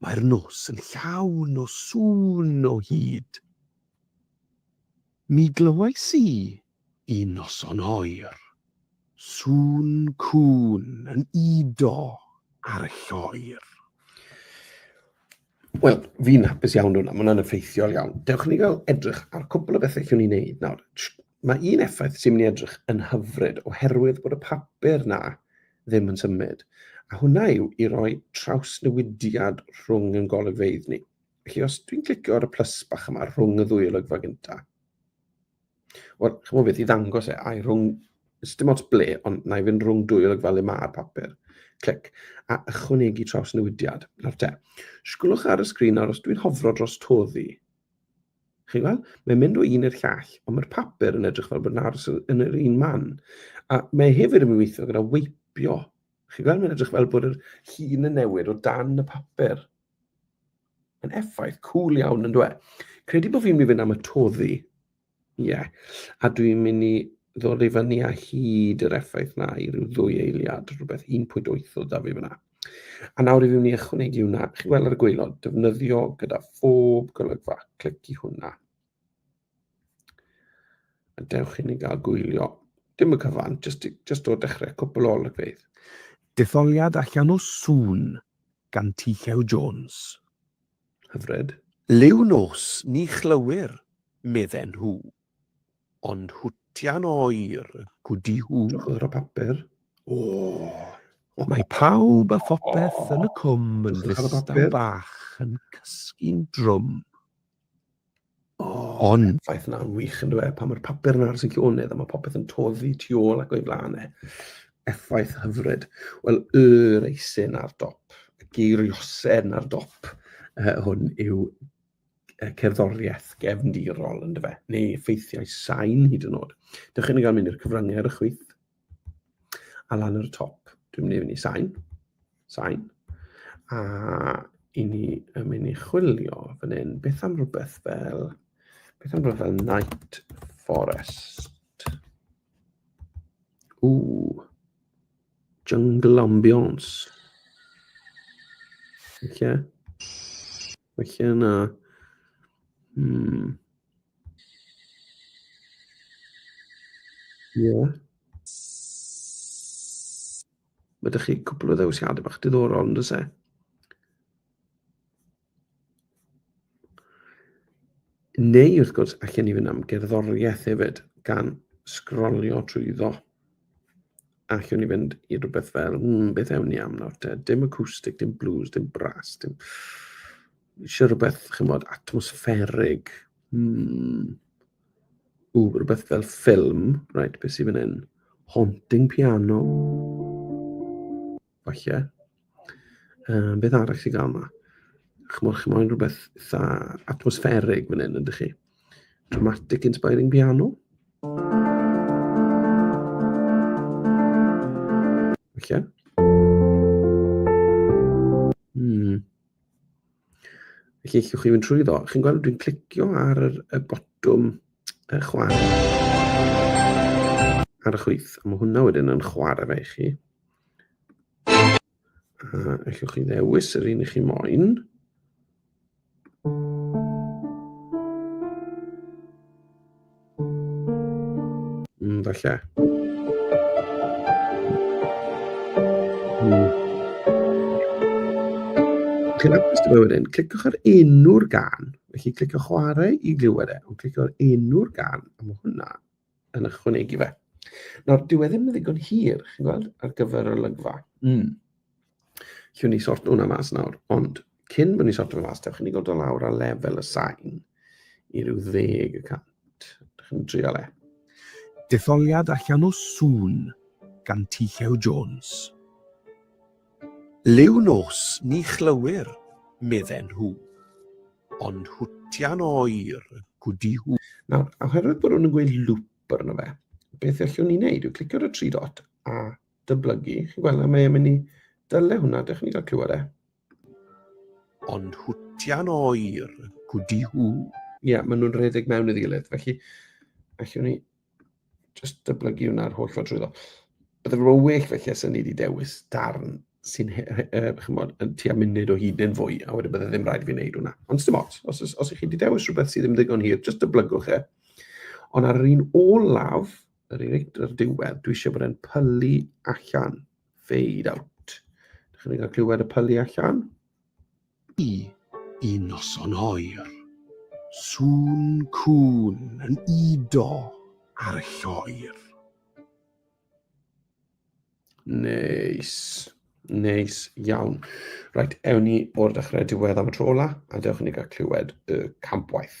Mae'r nos yn llawn o sŵn o hyd. Mi glywais i, un noson oer, sŵn cŵn yn udo ar y lloer. Wel, fi'n hapus iawn hwnna, mae hwnna'n effeithiol iawn. Dewch i ni gael edrych ar cwpl o bethau allwn ni wneud nawr. Mae un effaith sy'n mynd i edrych yn hyfryd oherwydd bod y papur na ddim yn symud, a hwnna yw i roi trawsnewidiad rhwng yn golygfeydd ni. Felly os dwi'n clicio ar y plus bach yma rhwng y ddwy olygfa gynta, wel, chymod beth, i ddangos e, a'i rhwng, dim ots ble, ond na i fynd rhwng dwy olygfa le mae'r papur. Clic, a ychwanegu trawsnewidiad. Nawr te, sgwlwch ar y sgrin nawr, os dwi'n hofro dros toddi, Chi'n gweld? Mae'n mynd o un i'r llall, ond mae'r papur yn edrych fel bod yn aros yn yr un man. A mae hefyd yn mynd weithio gyda weipio. Chi'n gweld? Mae'n edrych fel bod yr hun yn newid o dan y papur. Mae'n effaith cool iawn yn dweud. Credu bod fi'n mynd i fynd am y toddi. Ie. Yeah. A dwi'n mynd i ddod i fyny a hyd yr effaith na i ryw ddwy eiliad, rhywbeth 1.8 o da fi fyna. A nawr i fi wneud ychwanegu hwnna, chi weld ar y gweilod, defnyddio gyda phob golygfa, clic i hwnna. A dewch i ni gael gwylio, dim y cyfan, just, just o dechrau, cwpl o olygfeydd. Detholiad allan o sŵn gan Tychew Jones. Hyfryd. Liw nos, ni chlywir, medden nhw. Ond hwtian oer. Gwdihu yr o papur. O! Mae pawb a phopeth yn y cwm yn ddistaw bach yn cysgu'n drwm. Ond. Ffaith yna, yn wych, yndyw e? Pan mae'r papur yn aros yn llonydd a mae popeth yn toddi tu ôl ac o'i flaen e. Effaith hyfryd. Wel, y reisyn ar dop, y geiriosedd ar dop hwn yw cerddoriaeth gefndirol yn dyfe, neu effeithiau sain hyd yn oed. Dych chi'n cael mynd i'r cyfryngau ar y chwith, a lan ar y top, dwi'n mynd i fynd i sain, sain, a i ni yn mynd i chwilio fan hyn, beth am rhywbeth fel, beth am rhywbeth fel Night Forest. Ooh, jungle ambiance. Okay. Felly yna... Hmm. Ie. Yeah. Mae ydych chi cwpl o ddewisiadau bach diddorol, yn dweud e? Neu, wrth gwrs, allan ni fynd am gerddoriaeth hefyd, gan sgrolio trwyddo. allwn ni fynd i rhywbeth fel, mm, beth ewn ni am nawr te? Dim acoustic, dim blues, dim brass, dim... Eisiau rhywbeth, chi'n bod, atmosfferig. Mm. Ww, rhywbeth fel ffilm. Right, beth sy'n fan hyn? Haunting piano. Falle. Um, beth arall sy'n gael yma? Chymod, chi'n moyn rhywbeth eitha atmosfferig fan hyn, ydych chi? Dramatic inspiring piano? Falle. Hmm. Felly, allwch chi fynd trwy ddo. Chi'n gweld, dwi'n clicio ar y, y botwm y chwarae ar y chwith. A mae hwnna wedyn yn chwarae fe i chi. A allwch chi ddewis yr un i chi moyn. Mm, falle. Mm. Chi'n apus dy wedyn, clicwch ar enw'r gan. Felly clicwch chwarae i glywed e, ond clicwch ar enw'r gan, a mae hwnna yn ychwanegu fe. Nawr, dyw e ddim yn ddigon hir, chi'n gweld, ar gyfer y lygfa. Mm. Llwn ni sort hwnna mas nawr, ond cyn bod ni'n sort hwnna mas, dewch i ni godo lawr a lefel y sain i ryw ddeg y cant. Dewch i'n trial e. Detholiad allan o sŵn gan T. Llew Jones. Liw nos ni chlywir, medden nhw, ond hwtian oer gwdi hw. Nawr, oherwydd bod nhw'n gweud loop arno fe, beth allwn ni wneud yw clicio ar y tri dot a dyblygu. Chi'n gweld na mae e'n mynd i dyle hwnna, dych chi'n cael clywed e? ond hwtian oer gwdi hw. Ie, yeah, maen nhw'n rhedeg mewn iddi gilydd, felly allwn ni Just dyblygu hwnna'r holl ffordd drwyddo. Bydde fe well felly os o'n ni wedi dewis darn sy'n chymod, yn tua munud o hyd neu'n fwy, a wedyn bydde ddim rhaid i fi wneud hwnna. Ond dim ots, os, os, os ych chi wedi dewis rhywbeth sydd ddim ddigon hir, jyst dyblygwch e. Ond ar yr un olaf, yr un ar diwedd, dwi eisiau bod e'n pylu allan, fade out. Dych chi'n cael clywed y pylu allan? I un noson oer. Sŵn cŵn yn udo ar y lloer. Neis. Neis iawn. Reit, ewn ni o'r dechrau diwedd am y tro ola, a dewch i ni gael clywed y campwaith.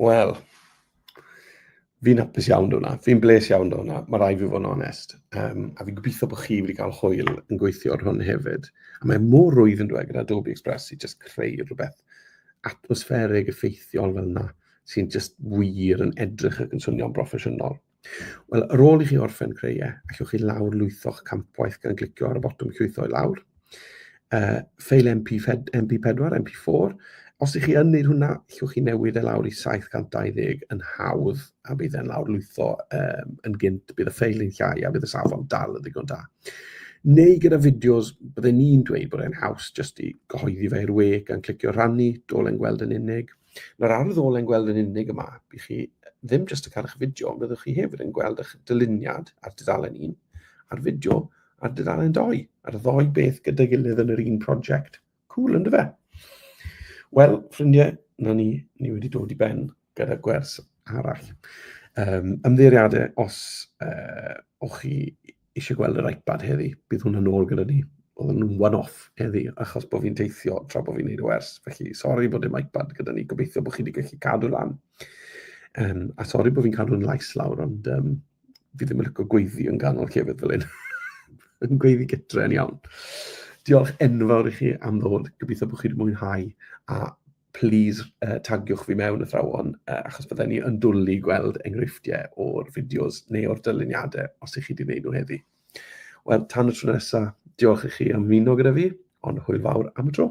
Wel, fi'n hapus iawn do hwnna, fi'n bles iawn do hwnna, mae rai fi fod yn onest. Um, a fi'n gobeithio bod chi wedi cael hwyl yn gweithio ar hwn hefyd. A mae mor rwydd yn dweud gyda Adobe Express i just creu rhywbeth atmosfferig, effeithiol fel yna, sy'n just wir yn edrych ac yn swnio'n broffesiynol. Wel, ar ôl i chi orffen creu e, allwch chi lawr lwytho'ch campwaith gan glicio ar y botwm llwytho i lawr. Uh, ffeil MP, MP4, MP4. Os ych chi yn gwneud hwnna, allwch chi newid e lawr i 720 yn hawdd, a bydd e'n lawr lwytho um, yn gynt, bydd y ffeil yn llai, a bydd y safon dal yn ddigon da. Neu gyda fideos, byddai ni'n dweud bod e'n haws jyst i gyhoeddi fe i'r we gan clicio rhannu, dolen gweld yn unig. Mae'r ardd ôl yn gweld yn unig y map i chi, ddim jyst y cael eich fideo, ond byddwch chi hefyd yn gweld eich dyluniad ar dudalen 1 a'r fideo ar dudalen 2, a'r ddoi beth gyda'i gilydd yn yr un prosiect. Cool, ynddo fe? Wel, ffrindiau, na ni, ni wedi dod i ben gyda gwers arall. Um, ymddeiriadau os uh, o'ch chi eisiau gweld yr iPad heddi, bydd hwn yn ôl gyda ni. Oedd yn one-off heddi, achos bod fi'n teithio tra bod fi'n neud o ers. Felly, sori bod dim iPad gyda ni, gobeithio bod chi wedi gallu cadw lan. Um, a sori bod fi'n cadw'n lais lawr, ond um, fi ddim yn lyco gweiddi yn ganol llefydd fel hyn. yn gweiddi gytre yn iawn. Diolch enfawr i chi am ddod. Gobeithio bod chi wedi mwynhau a plîs tagiwch fi mewn athrawon, achos bydden ni yn dwlu i gweld enghreifftiau o'r fideos neu o'r dyluniadau os ych chi wedi gwneud nhw heddi. Wel, tan y tro nesaf, diolch i chi am ymuno gyda fi, ond hwyl fawr am y tro.